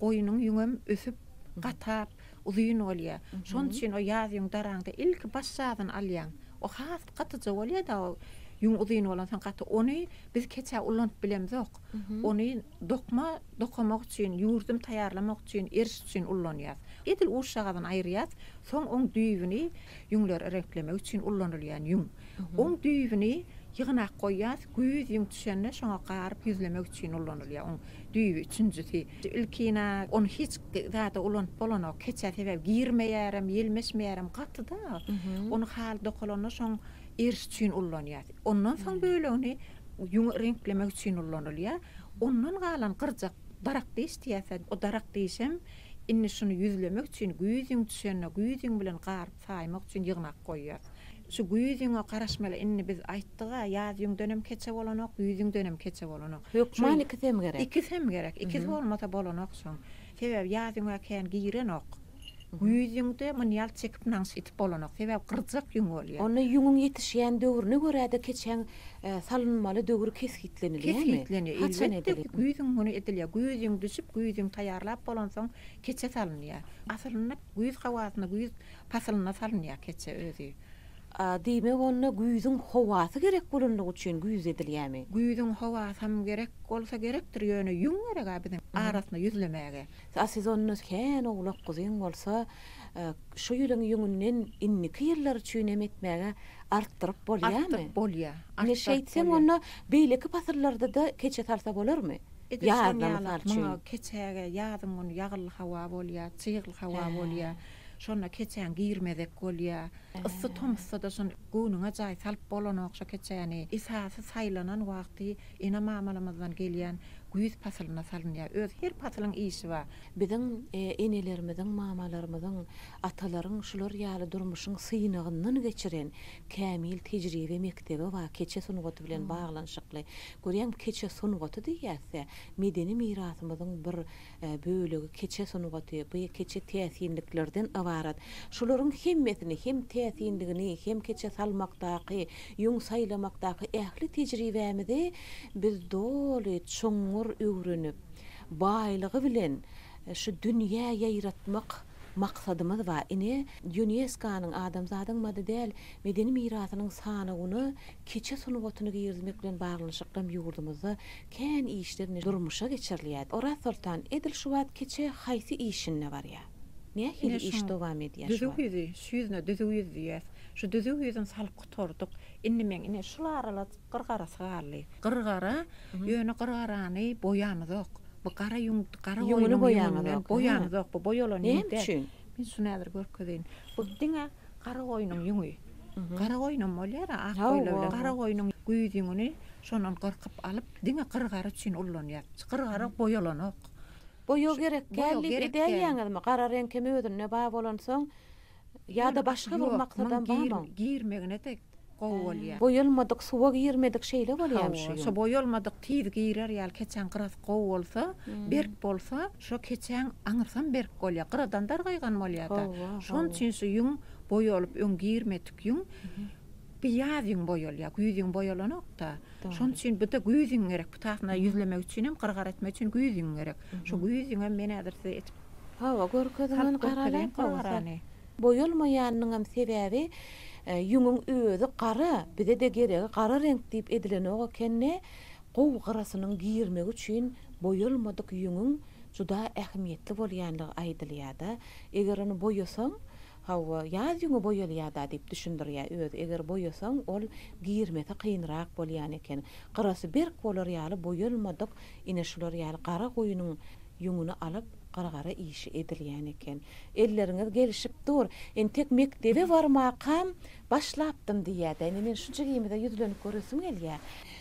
goýnuň ýüňem ösüp, gatap, Uzyn bolýar. Şon üçin o ýaz ýüň daraňda ilki baş jazyny alýaň. O has gatyja bolýar-da o ýüň uzyn bolansoň gaty. Ony biz keçä ulanyp bilemzok. Ony dokma dokamak üçin, ýürdüm taýýarlamak üçin, eriş üçin ullanýas. Edil uşjagazyny aýyrýas, soň oň düýbüni ýüňleri reňklemek üçin ulanylýan ýüň. Oň düýbüni ýygnap goýýas, güýz ýüň düşende şoňa garyp ýüzlemek üçin ulanylýar. Oň Düýbi üçünjisi. Ilkina ony hiç zada ulanyp bolanok. Keçä sebäbi girmeýärem, ýelmeşmeýärem gaty-da. Ony haly dokalanda şoň eriş üçin ulanýas. Ondan soň bölegini ýüňi reňklemek üçin ulanylýar. Ondan galan gyrjak darak diş diýýärse, o darak dişem indi şuny ýüzlemek üçin güýz ýüň düşende güýz ýüň bilen garyp saýmak üçin ýygnap goýýas. Şu güýz ýüňe garaşmaly inni biz aýtdyga ýaz ýüňdenem keçe bolanok güýz ýüňdenem keçe bolanok. Hökman ikisem gerek. Ikisem gerek ikisi bolmasa bolanok soň. Sebäbi ýaz ýüňe kän girenok. Güýz ýüňde muny ýaly çekip naňş itip bolanok sebäbi gyrjak ýüň bolýa. Onda ýüňüň ýetişýän döwrüne görä-de keçäň salynmaly döwri kesgitlenilýämi? Kesgitlenýär haçan edilip. Elbetde güýzüň güni edilýär. Güýz ýüň düşüp güýz ýüň taýýarlap bolansoň keçe salynýar. Aslynda güýz howasynda güýz Pasylyna salynýar keçe özi. A, diýmek onda güýzüň howasy gerek bolanlygy üçin güýz edilýämi? Güýzüň howasam gerek bolsa gerekdir, ýöne ýüň gerek-ä biziň arasynda ýüzlemäge. A siz onda kän owlak guzyň bolsa, şu ýylyň ýüňünden indiki ýyllar üçin hem etmäge artdyryp bolýamy? Artdyryp bolýar. Ine şeýtseň onda beýleki pasyllarda-da keçe salsa bolarmy? Ýazda mysal üçin. Muňa keçäge ýazyň güni ýagylly hawa bolýar, çygly hawa bolýar. Şonda keçäň girmezek bolýa. Yssy tomusda-da şon göwnüňe jaý salyp bolanok şo keçäni. Esasy saýlanan wagty ene-mamalarymyzdan gelýän güýz pasylynda salynýar. Öz her pasylyň işi bar. Biziň enelerimiziň, mamalarymyzyň, atalaryň şular ýaly durmuşyň synagyndan geçiren kämil tejribe mekdebi bar keçe sungaty bilen baglanyşykly. Görýäňmi, keçe sungaty diýýäs-dä, medeni mirasymyzyň bir bölegi keçe sungaty, bu keçe täsinliklerden ybarat. Şularyň hemmesini, hem täsinligini, hem keçe salmakdaky, ýüň saýlamakdaky ähli tejribämizi biz doly, çuňňur öwrenip, baýlygy bilen şu dünýä ýaýratmak maksadymyz bar. Ine, Ýunesko-nyň Adamzadyň maddy däl medeni mirasynyň sanawyna keçe sungatyny girizmek bilen baglanyşykly hem ýurdumyzda Kän işler ne durmuşa geçirilýärdi. Orazsoltan edil şu wagt keçe haýsy işinde barýa? Nähili iş dowam edýä şu wagt? Ine şuň düzüw ýüzi, şu ýüzüne düzüw ýüz diýýäs. Şu düzüw ýüzüni salyp gutardyk. Indi meň ine şul arala gyrgarasy galdy. Gyrgara, ýöne gyrgarany boýamyzok. Bu gara ýüň, gara goýnuň ýüňünden boýamyzok. Bu boýalan ýüň däl. Näme üçin? Men şuny häzir görkezeýin. Bu diňe gara goýnuň ýüňi. Garagoýunam bolýar-a, ak goýlawylar. Garagoýnuň güýz ýüňüni şondan gyrkyp alyp, diňe gyrgary üçin ullanýar. Gyrgary boýalanok. Boýag gerek däl diýip edäýýäňizmi? Gara reňk hem özünde bar bolansoň, ýa-da başga bir maksadam barmy? Ýok, muň girmegine-de gowy bolýar. Boýalmadyk, suwa girmedik şeýle bolýarmy şu ýüň? Hawa, boýalmadyk tiz girer ýaly, keçäň gyrasy gowy bolsa, berk bolsa. Şo keçäň aňyrsam berk bolýa, gyradan dargaýgan bolýada. Şon üçin şu ýüň boýalyp öň girmedik ýüň bir ýaz ýüň boýalýa, güýz ýüň boýalanokda. Şon üçin bu-da güýz ýüň gerek. Bu taýyna ýüzlemek üçin hem gyrgar etmek üçin güýz ýüň gerek. Şo güýz ýüňem men häzir size etip. Hawa, görkeziň ony garalaň bolsa. Boýalmaýanynyňam sebäbi ýüňüň özi gara, bize-de geregi gara reňk diýip edilenok ekeni. Gowy gyrasynyň girmegi üçin boýalmadyk ýüňüň juda ähmiýetli bolýandygy aýdylýar-da. Eger ony boýasaň, hawa, ýaz ýüňi boýalýar-da diýip düşündirýär özi. Eger boýasaň, ol girmesi kynrak bolýan eken. Gyrasy berk bolar ýaly boýalmadyk, ine şular ýaly gara guýynyň ýüňüni alyp, gyrgara işi edilýän eken. Elleriňiz gelişip dur. Entek mekdebe barmakam Başlapdym diýýä-de, indi men şu jigimize ýüzlenip göresim gelýä.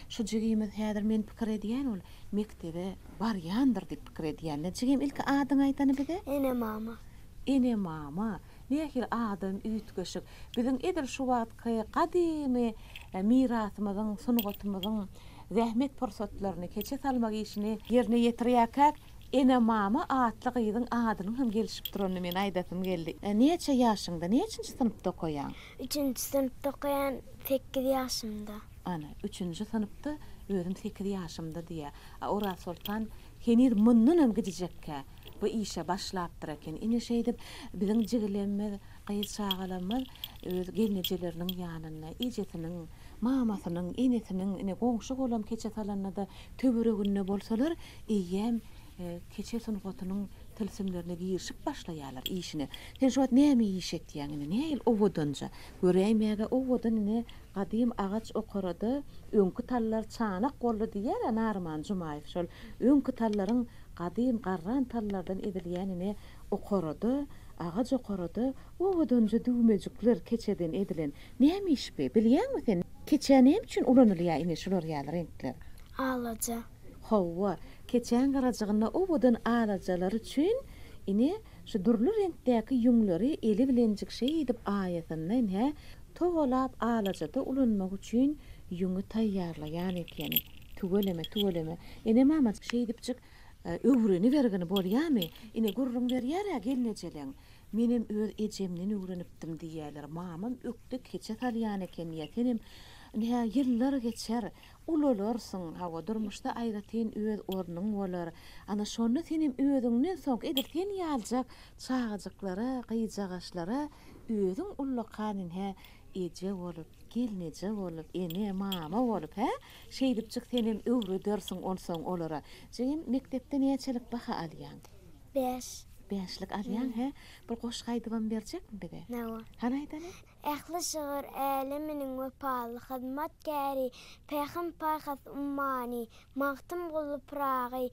Şu jigimiz häzir men pikir edýän ol mekdebe barýandyr diýip pikir edýän. Nä jigim ilki adyňy aýdany bize? Enemama. Enemama. Nähili adam üýtgeşik. Biziň edil şu wagtky gadymy mirasymyzyň, sungatymyzyň zähmet pursatlaryny keçe salmak işini ýerine ýetirýäkäk Ene-mama atly gyzyň adynyň hem gelişip duranyny men aýdasym geldi. Näçe ýaşyňda, näçinji synpda okaýaň? Üçünji synpda okaýan, sekiz ýaşymda. Ana, üçünji synpda, özüm sekiz ýaşymda diýýär. A Orazsoltan heniz mundan hem gijijekkä bu işe başlapdyr eken. Ine şeýdip, biziň jigilemimiz Gyz çagalarymyz öz gelnejeleriniň ýanynda, ejesiniň, mamasynyň, enesiniň, ine, goňşy golam keçe salanda-da töwereginde bolsalar, eýýäm keçe sungatynyň tilsimlerine girişip başlaýarlar işine. Sen şu wagt näme iş etýäň indi? Nähili owadanja? Göräýmäge owadan ine, gadym agaç okarada öňki tallar çanak boldy diýýär-ä Naryman Jumaýew. Şol öňki tallaryň gadym garran tallardan edilýän ine, Okarada, agaç okarada owadanja düwmejikler keçeden edilen. Näme iş bi, bilýäňmi sen? Keçä näme üçin ulanylýar ine şular ýaly reňkler? Alaja. Hawa, keçäň garajygynda owadan alajalary üçin ine şu dürli reňkdäki ýüňleri eli bilenjik şeýdip aýasynda ine togalap alajada ulanmak üçin ýüňi taýýarlaýan ekeni. Tüweleme, tüweleme. Ene-mama şeýdipjik Öwrenibergin bolýamy? Ine, gürrüň berýär-ä gelnejeleň. Menem öz ejemden öwrenipdim diýýärler. Mamam ökde keçe salýan eken diýýär. Senem, Ine-hä, ýyllar geçer, ulalarsyň. Hawa, durmuşda aýratyn öz ornuň bolar. Ana, şonda senem özüňden soňky, edil sen ýaljak çagajyklara, gyjagaşlara özüň ullakan, ine-hä, eje bolup. Gelneje bolup, ene, mama bolup, hä? Şeýdipjik senem öwredersiň onsoň olara. Jigim, mekdepde näçelik baha alýaň? Bäş. Bäşlik alýaň, hä? Bir goşgy aýdybam berjekmi bize? Hawa. Hany aýdaly. Ähli şygyr äleminiň wepaly hyzmatkäri, Pähim-paýhas ummany, Magtymguly Pyragy,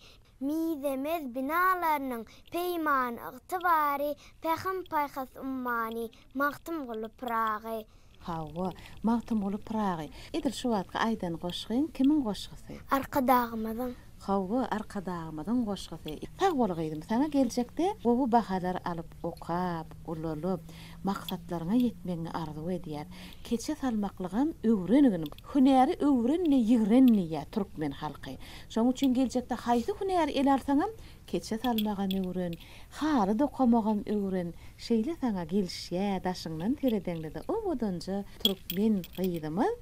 Mizemez binalarynyň peýmany-ygtybary, Pähim-paýhas ummany, Magtymguly Pyragy. Hawa, Magtymguly Pyragy. Edil şu wagtky aýdan goşgyň kimiň goşgysy? Arkadagymyzyň. Hawa, Arkadagymyzyň goşgysy. Sag bol gyzym, saňa geljekde gowy bahalar alyp okap, ulalyp, maksatlaryňa ýetmegiňi arzuw edýäs. Keçe salmaklygam öwrenigin. Hünäri öwrenme, ýigrenme diýýär türkmen halky. Şonuň üçin geljekde haýsy hünäri ele alsaňam Keçe salmagam öwren, haly dokamagam öwren, şeýle saňa gelişýä daşyňdan seredeňdede owadanja türkmen gyzymyz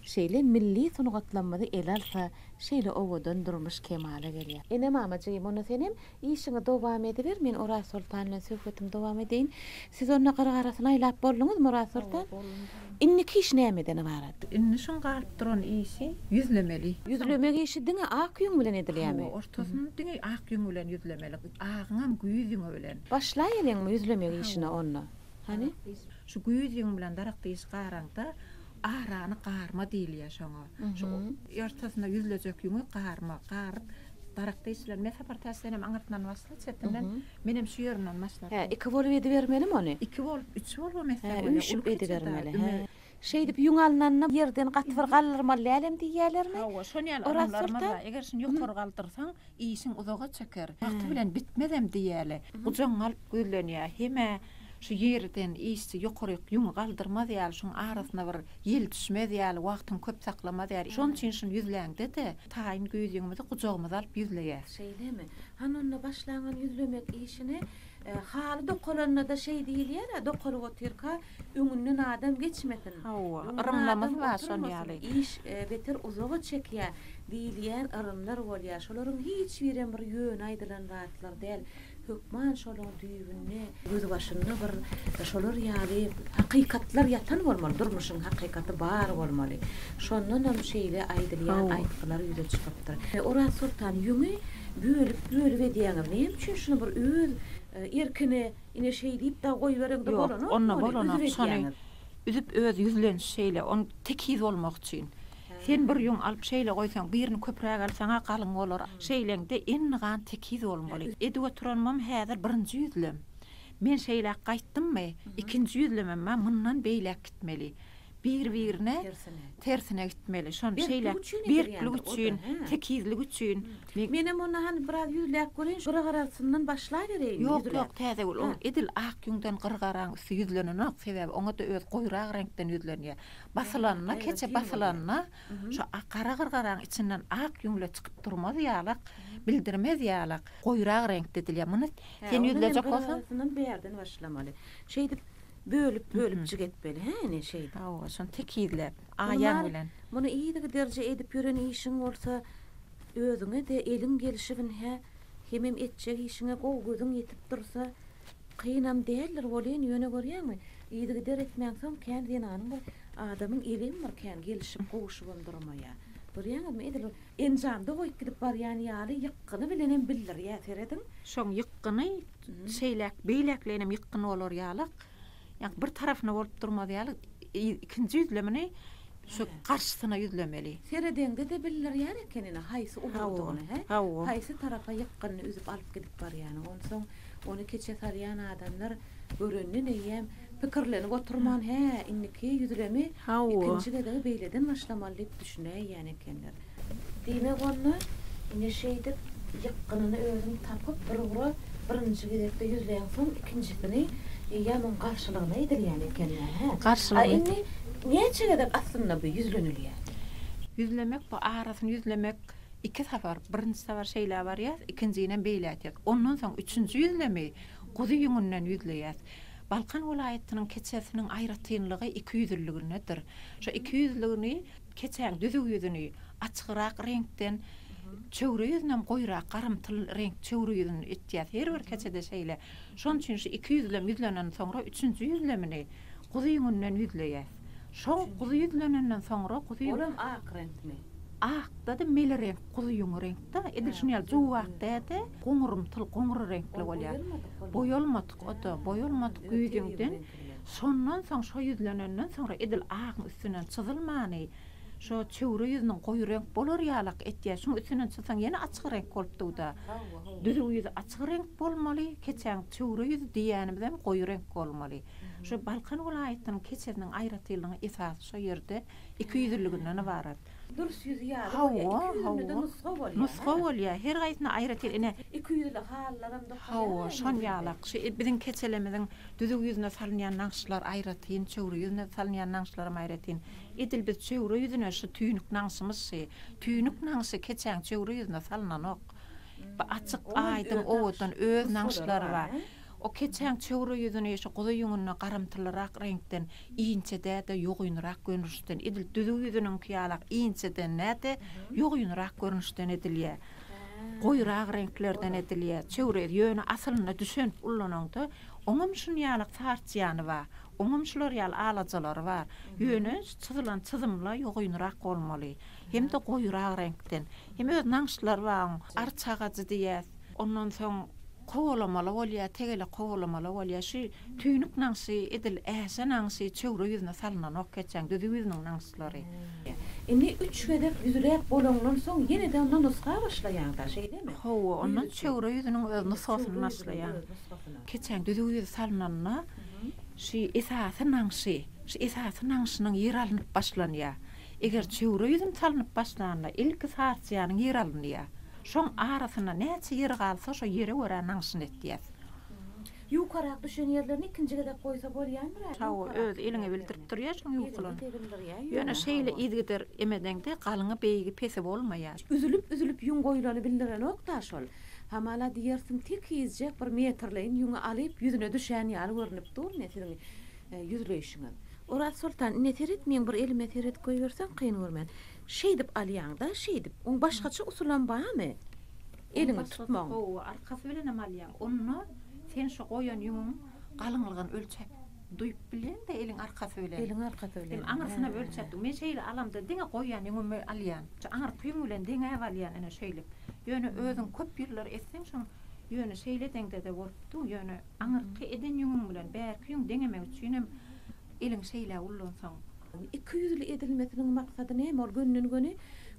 şeýle milli sungatlamyzy ele alsa şeýle owadan durmuş kemala gelýä. Ene mamajygym onda senem işiňi dowam ediber men Orazsoltan bilen söhbetimi dowam edeýin. Siz onda gyr garasyny aýlap bolduňyzmy Orazsoltan? Indiki iş nämeden ybarat? Indi şuň galyp duran işi ýüzlemeli. Ýüzlemek işi diňe ak ýüň bilen edilýärmi? Hawa, ortasyny diňe ak ýüň bilen ýüzlemeli. Agyňam güýz ýüňi bilen. Başlaýeliň ýüzlemek işine onda. Hany? Şu güýz ýüň bilen daragty işi garaňda, arany garma diýilýär şoňa. Şu ortasyna ýüzlejek ýüňi garma. Garyp, daragty işi bilen, men sapar täçdenem aňyrtyndan başla, çetinden. Menem şu ýerinden başlap Hä, iki bolup edibermelimi ony? Iki bolup, üç bolubam etseň Hä, bolýar. üýşüp Uly keçirde, edibermeli. Hä. ümez. Şeýdip ýüň alnanda ýerden gaty bir galdyrmaly dälem diýýälermi? Hawa, şony ýaly adamlarymyz bar. Eger şuny ýokary galdyrsaň, işiň uzaga çeker. Wagty bilen bitmezem diýýäli. Gujagyň galyp gözlenýär. Hem-ä şu ýerden işçi ýokaryk ýüňi galdyrmaz ýaly, şuň arasyna bir ýel düşmez ýaly, wagtyňy köp saklamaz ýaly. Şonuň üçin şuny ýüzläňde-de, Taýyn güýzüňimizi gujagymyza alyp ýüzleýäs. Şeýlemi? Hany onda başlaňan ýüzlemek işini. Haly dokalanda-da şeý diýilýär-ä, dokalyp otyrka öňünden adam geçmesin. Hawa, yrymlamasyn-a şol ýaly. Iş beter uzaga çekýär diýilýän yrymlar bolýar. Şolaryň hiç birem bir ýöne aýdylan zatlar däl. Hökman şolaň düýbünde, gözbaşynda bir şolar ýaly hakykatlar ýatan bolmaly, durmuşyň hakykaty bar bolmaly. Şondanam şeýle aýdylýan aýtgylar ýüze çykypdyr. Oraz soltan, ýöňe bölüp-bölüp edýäňiz, näme üçin şuny bir öz erkine ine şeý diýip dagy goýberiň-de bolanok, ony üzüp edýäňiz. Ýok, onda bolanok, şony üzüp öz ýüzlenişi şeýle, ony tekiz bolmak üçin. Sen bir ýüň alyp şeýle goýsaň, birini köpräk alsaň-a galyň bolar. Şeýleňde indi gan tekiz bolmaly. Edip oturanymam häzir birinji ýüzlem. Men şeýläk gaýtdymmy, ikinji ýüzlemem-ä mundan beýläk gitmeli. Bir-birine tersine gitmeli. Şony şeýläk berklik üçin, tekizlik üçin. Menem onda hany biraz ýüzläp göreýin, gyragarasyndan başlabereýinmi? Ýok-ýok, Täzegül, ol edil ak ýüňden gyragaranyň üsti ýüzlenenok, sebäbi oňa-da özi goýrak reňkden ýüzlenýär. Basylanda, keçe basylanda şu gara gyrgaraň içinden ak ýüňle çykyp durmaz ýalak, bildirmez ýalak, goýurak reňkde edilýär. Muny sen ýüzlejek bolsaň. Hawa, ondan hem bärden başlamaly. Şeýdip, bölüp-bölüp jik etmeli, hä, ine, şeýdip. Hawa, şony tekizläp, aýaň bilen. Muny yzy giderje edip ýören işiň bolsa, özüňe-de eliň gelşibin, hä, hemem etjek işiňe gowy gözüň ýetip dursa, Kynam däldir welin ýöne görýäňmi, yzygider etmänsoň kän zenanyň bir adamyň eligem bir kän gelişip, gowuşybam durmaýar. Görýäňizmi, edil bir enjamda goýup gidip barýan ýaly ýykgyny bilenem bildirýär, serediň. Şoň ýykgyny şeýläk, beýläkleýinem ýykgyn bolar ýalyk, ýaňky bir tarapyna bolup durmaz ýaly, ikinji ýüzlemini Şu garşysyna ýüzlemeli. Seredeňde-de bildirýär eken ine haýsy ulagdygyny, he? Haýsy tarapa ýykgynyny üzüp alyp gidip barýany. Onsoň ony keçe salýan adamlar görenden eýýäm pikirlenip oturman, hä, indiki ýüzlemi ikinji gezegi beýleden başlamaly diýip düşünäýýän ekenler. Diýmek onda, ine şeýdip, ýykgynyny özüň tapyp, bir ugra birinji gezekde ýüzleýäňsoň, ikinjisini ýa muň garşylygyna edilýän ekeni, hä? Garşylygyna. A indi näçe gezek aslynda bu ýüzlenilýär? Ýüzlemek bu arasyny ýüzlemek iki sapar, birinji sapar şeýle barýas, ikinjinem beýle etýäs. Ondan soň üçünji ýüzlemi guzy ýüňünden ýüzleýäs. Balkan welaýatynyň keçesiniň aýratynlygy ikiýüzliligindedir. Şo ikiýüzliligini. Keçäň düzüw ýüzüni açygyrak reňkden, çöwre ýüzünem goýurak garymtyl reňk çöwre ýüzüni etýäs. Her bir keçede şeýle. Şonuň üçin şu iki ýüzlem ýüzlenen soňra üçünji ýüzlemini guzy ýüňünden ýüzleýäs. Şo guzy ýüzlenenden soňra guzy. Olam ak reňkmi? Akda-da meli reňk guzy ýüňi reňkde. Edil şuny ýaly juwak dä-de, goňurymtyl, goňur reňkli bolýar. Boýalmadyk o-da, boýalmadyk ýüzüňden Şondan soň şo ýüzlenenden soňra edil agyň üstünden çyzylmany, şo çöwre ýüzüniň goýy reňk bolar ýalak etýär. Şuň üstünden çyzsaň ýene açyk reňk bolup dugda. Düzüw ýüzi açyk reňk bolmaly, keçäň çöwre ýüzi diýýänimizem goýy reňk bolmaly. Şo Balkan welaýatynyň keçesiniň aýratynlygy esasy şo ýerde iki ýüzlüliginden ybarat. Durş ýüzi ýaly bolýar. Hawa, Iki ýüzünde-de hawa. nusga bolýar. Nusga bolýar. Her gaýsyna aýratyn. Ine. Iki ýüzli halylaram dokalýar. Hawa, şon ýalak. Şu biziň keçelemiziň düzüw ýüzüne salynýan nagyşlar aýratyn, çöwre ýüzüne salynýan nagyşlaram aýratyn. Edil biz çöwre ýüzüne şu tüýnük nagyşymyz şi. Tüýnük nagyşy keçäň çöwre ýüzüne salynanok. Bu açyk, aýdyň, owadan öz nagyşlary bar. O keçäň çöwre ýüzüni şu guzy ýüňüne garymtylyrak reňkden inçedä-de ýogynrak görnüşden edil düzüw ýüzüniňki ýalak inçedenä-de ýogynrak görnüşden edilýär. Goýurak reňklerden edilýär. Çöwre ýüz ýöne asylynda düşenip ullanaňda oňam şun ýalak sarçýany bar. Oňam şular ýaly alajalary bar. Ýöne şu çyzylan çyzymla ýogynrak bolmaly. hem-de goýurak reňkden. Hem öz nagyşlary bar oň. Arçagajy diýýäs. Ondan soň kowalamaly bolýar, tegele kowalamaly bolýar. Şu tüýnük nagyşy edil äşe nagyşy çöwre ýüzüne salnanok geçen düzü ýüzüniň nagyşlary. Indi üç gezek düzüläp bolandan soň ýene-de onda nusga başlaýaňda, şeýlemi? Hawa, ondan çöwre ýüzüniň öz nusgasyny başlaýaň. Keçen düzü ýüz salnanda, şu esasy nagyşy, şu esasy nagyşynyň ýeri alnyp başlanýar. Eger çöwre ýüzüm salnyp başlanda ilki sarsýanyň ýer alynýar. Şoň arasynda näçe ýer galsa şo ýere görä nagyşyny etýäs. Ýukarak düşen ýerlerini ikinji gezek goýsa bolýamyr a? Hawa öz eliňe bildirip durýa şuň ýukulyny. Ýöne şeýle yzgider emedeňde galyňy beýigi pesi bolmaýa. Üzülip üzülip ýüň goýlany bildirenokda şol. Hamala diýersiň tekizjek bir metrleýin ýüňi alyp ýüzüne düşän ýaly görnüp dur ne siziň ýüzleýşiňiz. Oraz soltan, ine seret, meň bir elime seret goýberseň kyn görmen. Şeýdip alýaň-da, şeýdip. Oň başgaça usulam bamy? Oň başgasy gowy, arkasy bilenem alýaň. Onda sen şu goýan ýüňüň galyňlygyny ölçäp, duýup bilýäň-de eliň arkasy bilen. Eliň arkasy bilen. Ine, aňyrsyna ölçäp dur. Men şeýle alamda diňe goýan ýüňümi alýan. Şu aňyrky ýüň bilen deňäp alýan ine şeýlip. Ýöne özüň köp ýyllar etseň şoň, ýöne şeýle deňde-de bolupdy, ýöne. Aňyrky eden ýüňüň bilen bärki ýüň deňemek üçinem eliňi şeýle ullansaň. Iki ýüzli edilmesiniň maksady näme? Ol gönden-göni,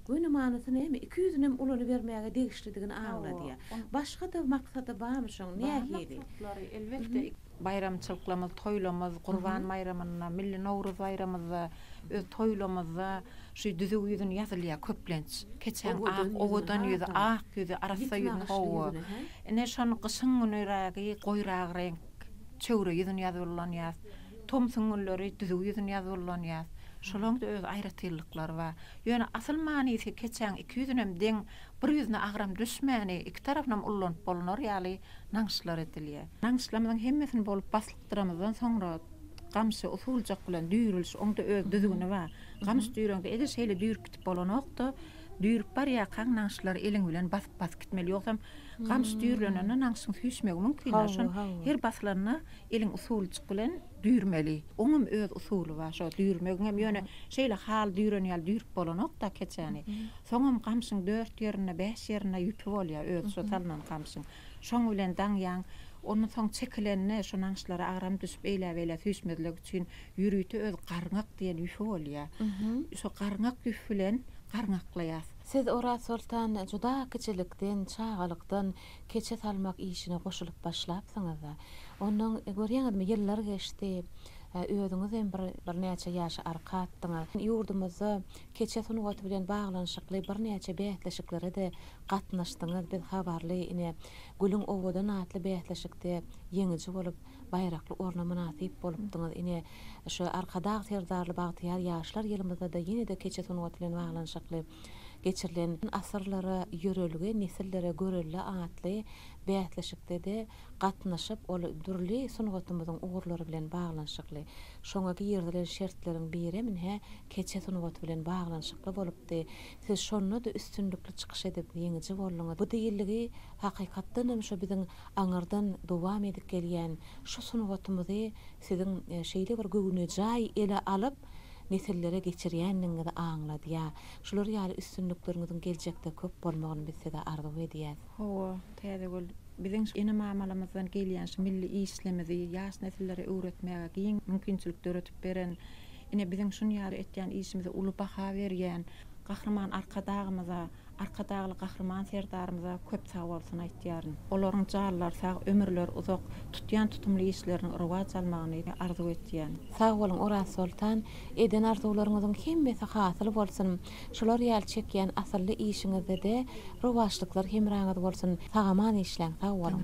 göni manysy näme? Iki ýüzünem ulanybermäge degişlidigini aňladýar. Başga-da maksady barmy şoň? Nähili? Bar maksatlary, elbetde. Baýramçylyklarymyz, toýlarymyz, Gurban baýramynda, Milli Nowruz baýramyzda Öz toýlamyzda şu düzüw ýüzün ýazylýar köplenç. Keçäň ak, owadan ýüzi, ak ýüzi, arassa ýüzi gowy. Ine, şony gyşyň günürägi goýrak reňk, çöwre ýüzün ýazyp ullanýarys. Tomsuň günleri düzüw ýüzün ýazyp ullanýarys. Şolaryň-da öz aýratynlyklary bar. Ýöne asyl manysy keçäň iki ýüzünem deň, bir ýüzüne agram düşmäni, iki tarapynam ullanyp bolnar ýaly nagyşlar edilýär. Nagyşlarymyzyň hemmesini bolup baslyk Ýapdyramadan soňra gamşy usuljyk bilen düýrüliş, oňda öz düzgüni bar. Gamyş düýräňde edil şeýle düýrüp gidip bolanokda, düýrüp barýarkaň naňşlary eliň bilen basyp-basyp gitmeli. Ýogsam gamyş düýrlenende naňşyň süýşmegi mümkin. Hawa, Şony hawa. her basylanda eliň usuljyk bilen düýrmeli. Oňam öz usuly bar şo düýrmegiňem. Ýöne şeýle haly düýren ýaly düýrüp bolanokda keçäni. Soňam gamşyň dört ýerinde, bäş ýerinde ýüpi bolýar, öz şo salnan gamşyň. Şoň bilen daňýaň. Ondan soň çekilende şu naňşlara agram düşüp eýläbeýlä süýşmezligi üçin ýörite öz garňak diýen ýüfi bolýar. Şo garňak ýüf bilen garňaklaýas. Siz Orazsoltan juda kiçilikden, çagalykdan keçe salmak işine goşulyp başlapsyňyz-da. Ondan görýäňizmi ýyllar geçdi. Özüňizem bir birnäçe ýaşa arka atdyňyz. Ýurdumyzda keçe sungaty bilen baglanyşykly birnäçe bäsleşiklere-de gatnaşdyňyz biz habarly ine Gülüň owadan atly bäsleşikde ýeňiji bolup baýrakly orna mynasyp bolupdyňyz ine şu Arkadag Serdarly bagtyýar ýaşlar ýylymyzdada ýenede keçe sungaty bilen baglanyşykly geçirilen Asyrlara ýörelge nesillere görelde atly bäsleşikdede gatnaşyp ol dürli sungatymyzyň ugurlary bilen baglanyşykly şoňa girizilen şertleriň birem inhe keçe sungaty bilen baglanyşykly bolupdy Siz şonda-da üstünlikli çykyş edip, ýeňiji bolduňyz. Bu diýildigi, hakykatdanam, şu biziň aňyrdan dowam edip gelýän şu sungatymyzy siziň şeýle bir göwnejaý ele alyp, nesillere geçirýändigiňizi aňladýar. Şular ýaly üstünlikleriňiziň geljekde köp bolmagyny biz size arzuw edýäs. Hawa, Täzegül, biziň şu ene-mamalarymyzdan gelýän şu milli işlimizi ýaş nesillere öwretmäge giň mümkinçilik döredip beren Ine, biziň şunýaly etýän işimize uly baha berýän Gahryman Arkadagymyza, Arkadagly Gahryman Serdarymyza köp sag bolsun aýtýaryn. Olaryň janlary sag, ömürleri uzak, tutýan tutumly işleriniň rowaç almagyny arzuw etýän. Sag boluň Orazsoltan, eden arzuwlaryňyzyň hemmesi hasyl bolsun, şular ýaly çekýän asylly işiňizdede rowaçlyklar hemraňyz bolsun, sag-aman işläň, sag boluň!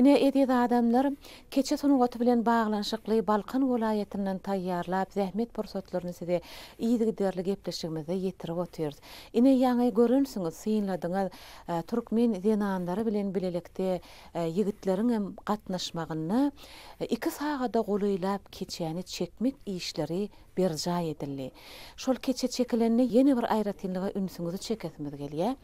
Ine, eziz adamlar, keçe sungaty bilen baglanyşykly Balkan welaýatyndan taýýarlap, zähmet pursatlaryny size yzygiderli gepleşigimizde ýetirip otyrys. Ine, ýaňy görensiňiz, synladyňyz, türkmen zenanlary bilen bilelikde ýigitleriňem gatnaşmagynda iki sagada golaýlap keçäni çekmek işleri berjaý edildi. Şol keçe çekilende ýene bir aýratynlyga ünsüňizi çekesimiz gelýär.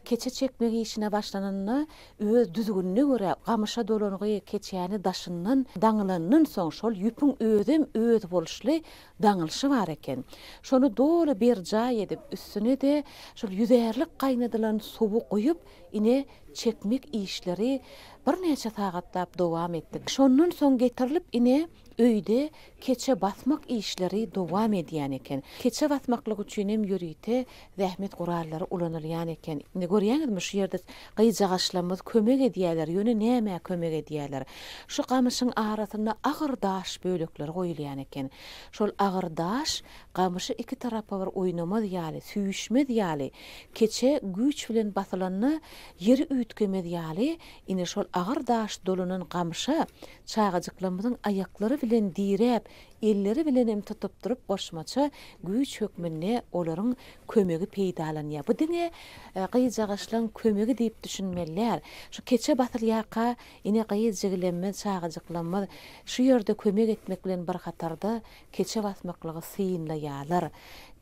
Keçe çekmek işine başlananda öz düzgünine görä gamyşa dolangy keçäni daşyndan daňylandan soň şol ýüpüň özem özboluşly daňylşy bar eken. Şony doly berjaý edip, üstüne-de şol ýüzärlik gaýnadylan suwy guýup, ine, çekmek işleri birnäçe sagatlap dowam etdi. Şondan soň getirilip, ine, Öýde keçe basmak işleri dowam edýän eken. Keçe basmaklyk üçin hem ýörite zähmet gurallary ulanylýan eken. Indi görýäňizmi, şu ýerde gyjagaçlarymyz kömek edýärler, ýöne nämä kömek edýärler? Şu gamyşyň arasyna agyr daş bölekleri goýulýan eken. Şol agyr daş gamyşy iki tarapa bir oýnamaz ýaly, süýşmez ýaly, keçe güýç bilen basylanda ýeri üýtgemez ýaly, ine, şol agyr daş dolanan gamyşa Çagajyklarymyzyň aýaklary bilen diräp, elleri bilenem tutup durup goşmaça güýç hökmünde olaryň kömegi peýdalanýar. Bu diňe gyzjagaşlaň kömegi diýip düşünmeli däl. Şu keçe basylýarka ine gyz jigilemmiz, çagajyklarymyz şu ýerde kömek etmek bilen bir hatarda keçe basmaklygy synlaýarlar.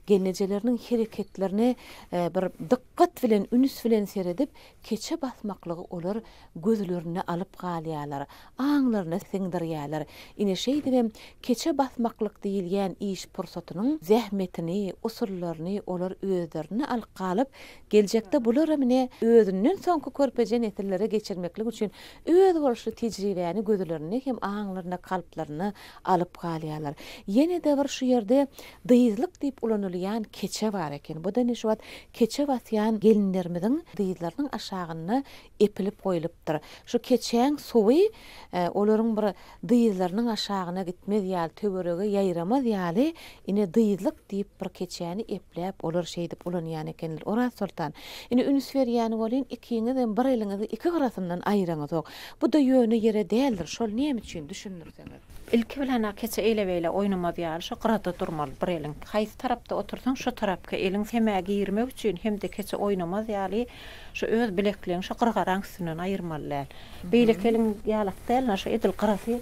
Gelnejeleriniň hereketlerine bir dykgat bilen, üns bilen seredip, Keçe basmaklygy olar gözlerinde alyp galýarlar, aňlaryna siňdirýärler. Ine şeýdibem keçe basmaklyk diýilýän iş pursatynyň zähmetini, usullaryny olar özlerinde alyp galyp, geljekde bularam ine özünden soňky körpeje nesillere geçirmeklik üçin özboluşly tejribäni gözlerinde hem aňlarynda, kalplarynda alyp galýarlar. Ýene-de bir şu ýerde dyzlyk diýip ulanylýan keçe bar eken. Bu-da ine şu wagt Keçe basýan gelinlerimiziň dyzlarynyň aşagynda epilip goýlupdyr. Şu keçäň suwy olaryň bir dyzlarynyň aşagyna gitmez ýaly, töwerege ýaýramaz ýaly, ine, dyzlyk diýip bir keçäni epläp, olar şeýdip ulanýan ekenler. Orazsoltan, ine, üns berýän bolyn, ikiňizem bir eliňizi iki gyrasyndan aýyraňyzok. Bu-da ýöne ýere däldir. Şol nämüçin? Düşündirseňiz. Ilki bilen-ä keçe eýle-beýle oýnamaz ýaly şu gyrada durmaly bir eliň. Haýsy tarapda otursaň şo tarapky eliň semä girmek üçin hem-de keçe oýnamaz ýaly şu öz bilekleň şu gyrgaraň üstünden aýyrmaly däl. Beýleki eliň ýalak däl-ä şu edil gyrasy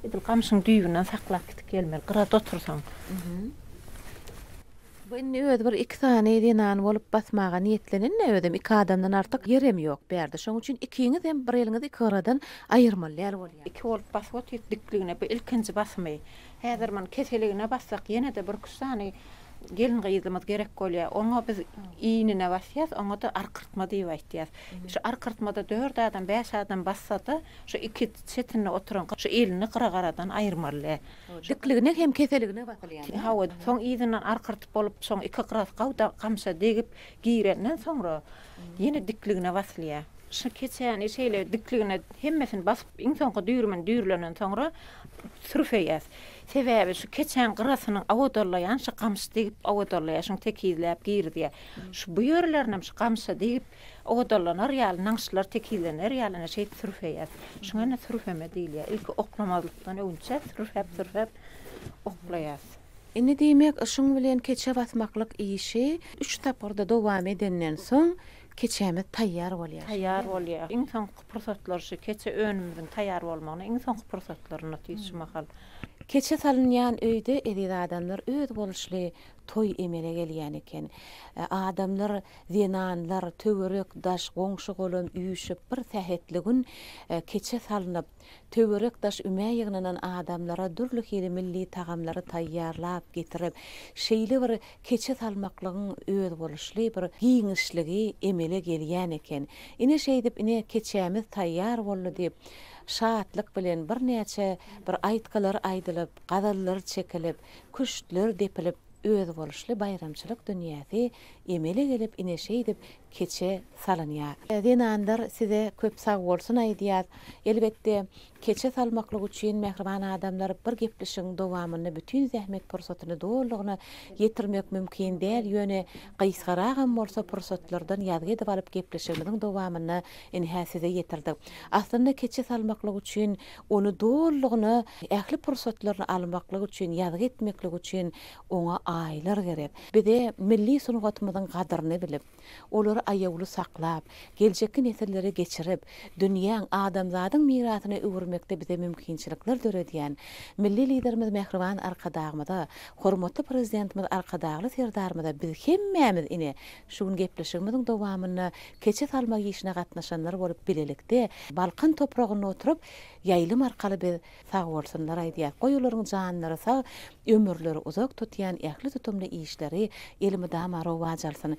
edil gamşyň düýbünden saklap gidip gelmeli gyrada otursaň. Bu indi özi bir iki sany zenany bolup basmaga niýetlenenä özem iki adamdan artyk ýerem ýok bärde şoň üçin ikiňizem bir eliňizi iki gyradan aýyrmaly däl bolýa. Iki bolup basyp otyk dikligine bu ilkinji basymy häzir muny keseligine bassak ýenede bir iki üç sany gelin gyzymyz gerek bolýa oňa biz iýnine basýas oňada arkyrtma diýip aýtýas şu arkyrtmada dört adam bäş adam bassada şu iki çetinde oturan şu elini gyra garadan aýyrmaly däl. Dikligine hem keseligine basylýan. Hawa, soň yzyndan arkyrtyp bolup, soň iki gyrat gawda gamça degip girenden soňra ýene dikligine basylýar. Şu keçäni şeýle dikligine hemmesini basyp, iň soňky düýrümini düýrülenden soňra sürfeýäs. Sebäbi şu keçäň gyratynyň awodallaýan şu gamç degip awodallaýar, şuny tekizläp girizýär. Şu bu ýerlerinem şu gamça degip Ogdalanar ýaly, naňşlar tekizlener ýaly ine şeýdip sürfeýäs. Şuňa ine sürfeme diýilýär. Ilki oklamazlykdan öwünçäs, sürfäp-sürfäp oklaýas. Indi diýmek, şuň bilen keçe basmaklyk işi üç tapgyrda dowam edenden soň, keçämiz taýýar bolýar. Taýýar bolýar. Iň soňky pursatlar şu keçe önümimiziň taýýar bolmagyna iň soňky pursatlar ine diýs şu mahal. Keçe salynýan öýde, eziz adamlar, özboluşly toý emele gelýän eken. Adamlar Zenanlar, töwerek-daş, goňşy-golam üýşüp, bir sähetli gün keçe salnyp, töwerek-daş ümä ýygnanan adamlara dürli hili milli tagamlary taýýarlap getirip, şeýle bir keçe salmaklygyň özboluşly bir giňişligi emele gelýän eken. Ine, şeýdip, ine, keçämiz taýýar boldy diýip, şatlyk bilen birnäçe bir aýtgylar aýdylyp, gazallar çekilip, küştler depilip, özboluşly baýramçylyk dünýäsi Emele gelip ine şeýdip keçe salynýar. Zenanlar size köp sagbolsun aýdýas. Elbetde keçe salmaklyk üçin mähriban adamlar bir geplişigiň dowamynda bütin zähmet pursatyny dolulygyna ýetirmek mümkin däl ýöne gysgaragam bolsa pursatlardan ýazgy edip alyp geplişigimiziň dowamynda ine-hä size ýetirdik. Aslynda keçe salmaklyk üçin ony dolulygyna ähli pursatlaryny almaklyk üçin ýazgy etmeklik üçin Oňa aýylar gerek. Bize milli sungatymyzyň gadyryny bilip, olary aýawly saklap, geljekki nesillere geçirip, dünýäň, adamzadyň mirasyna öwürmekde bize mümkinçilikler döredýän Milli Liderimiz Mähriban Arkadagymyza, hormatly Prezidentimiz Arkadagly Serdarymyza biz hemmämiz, ine, şu gün gepleşigimiziň dowamynda keçe salmak işine gatnaşanlar bolup bilelikde Balkan topragynda oturyp, ýaýlym arkaly biz Sag bolsunlar aýdýas goý olaryň janlary sag ömürleri uzak tutýan ähli tutumly işleri elmydama rowaç alsyn.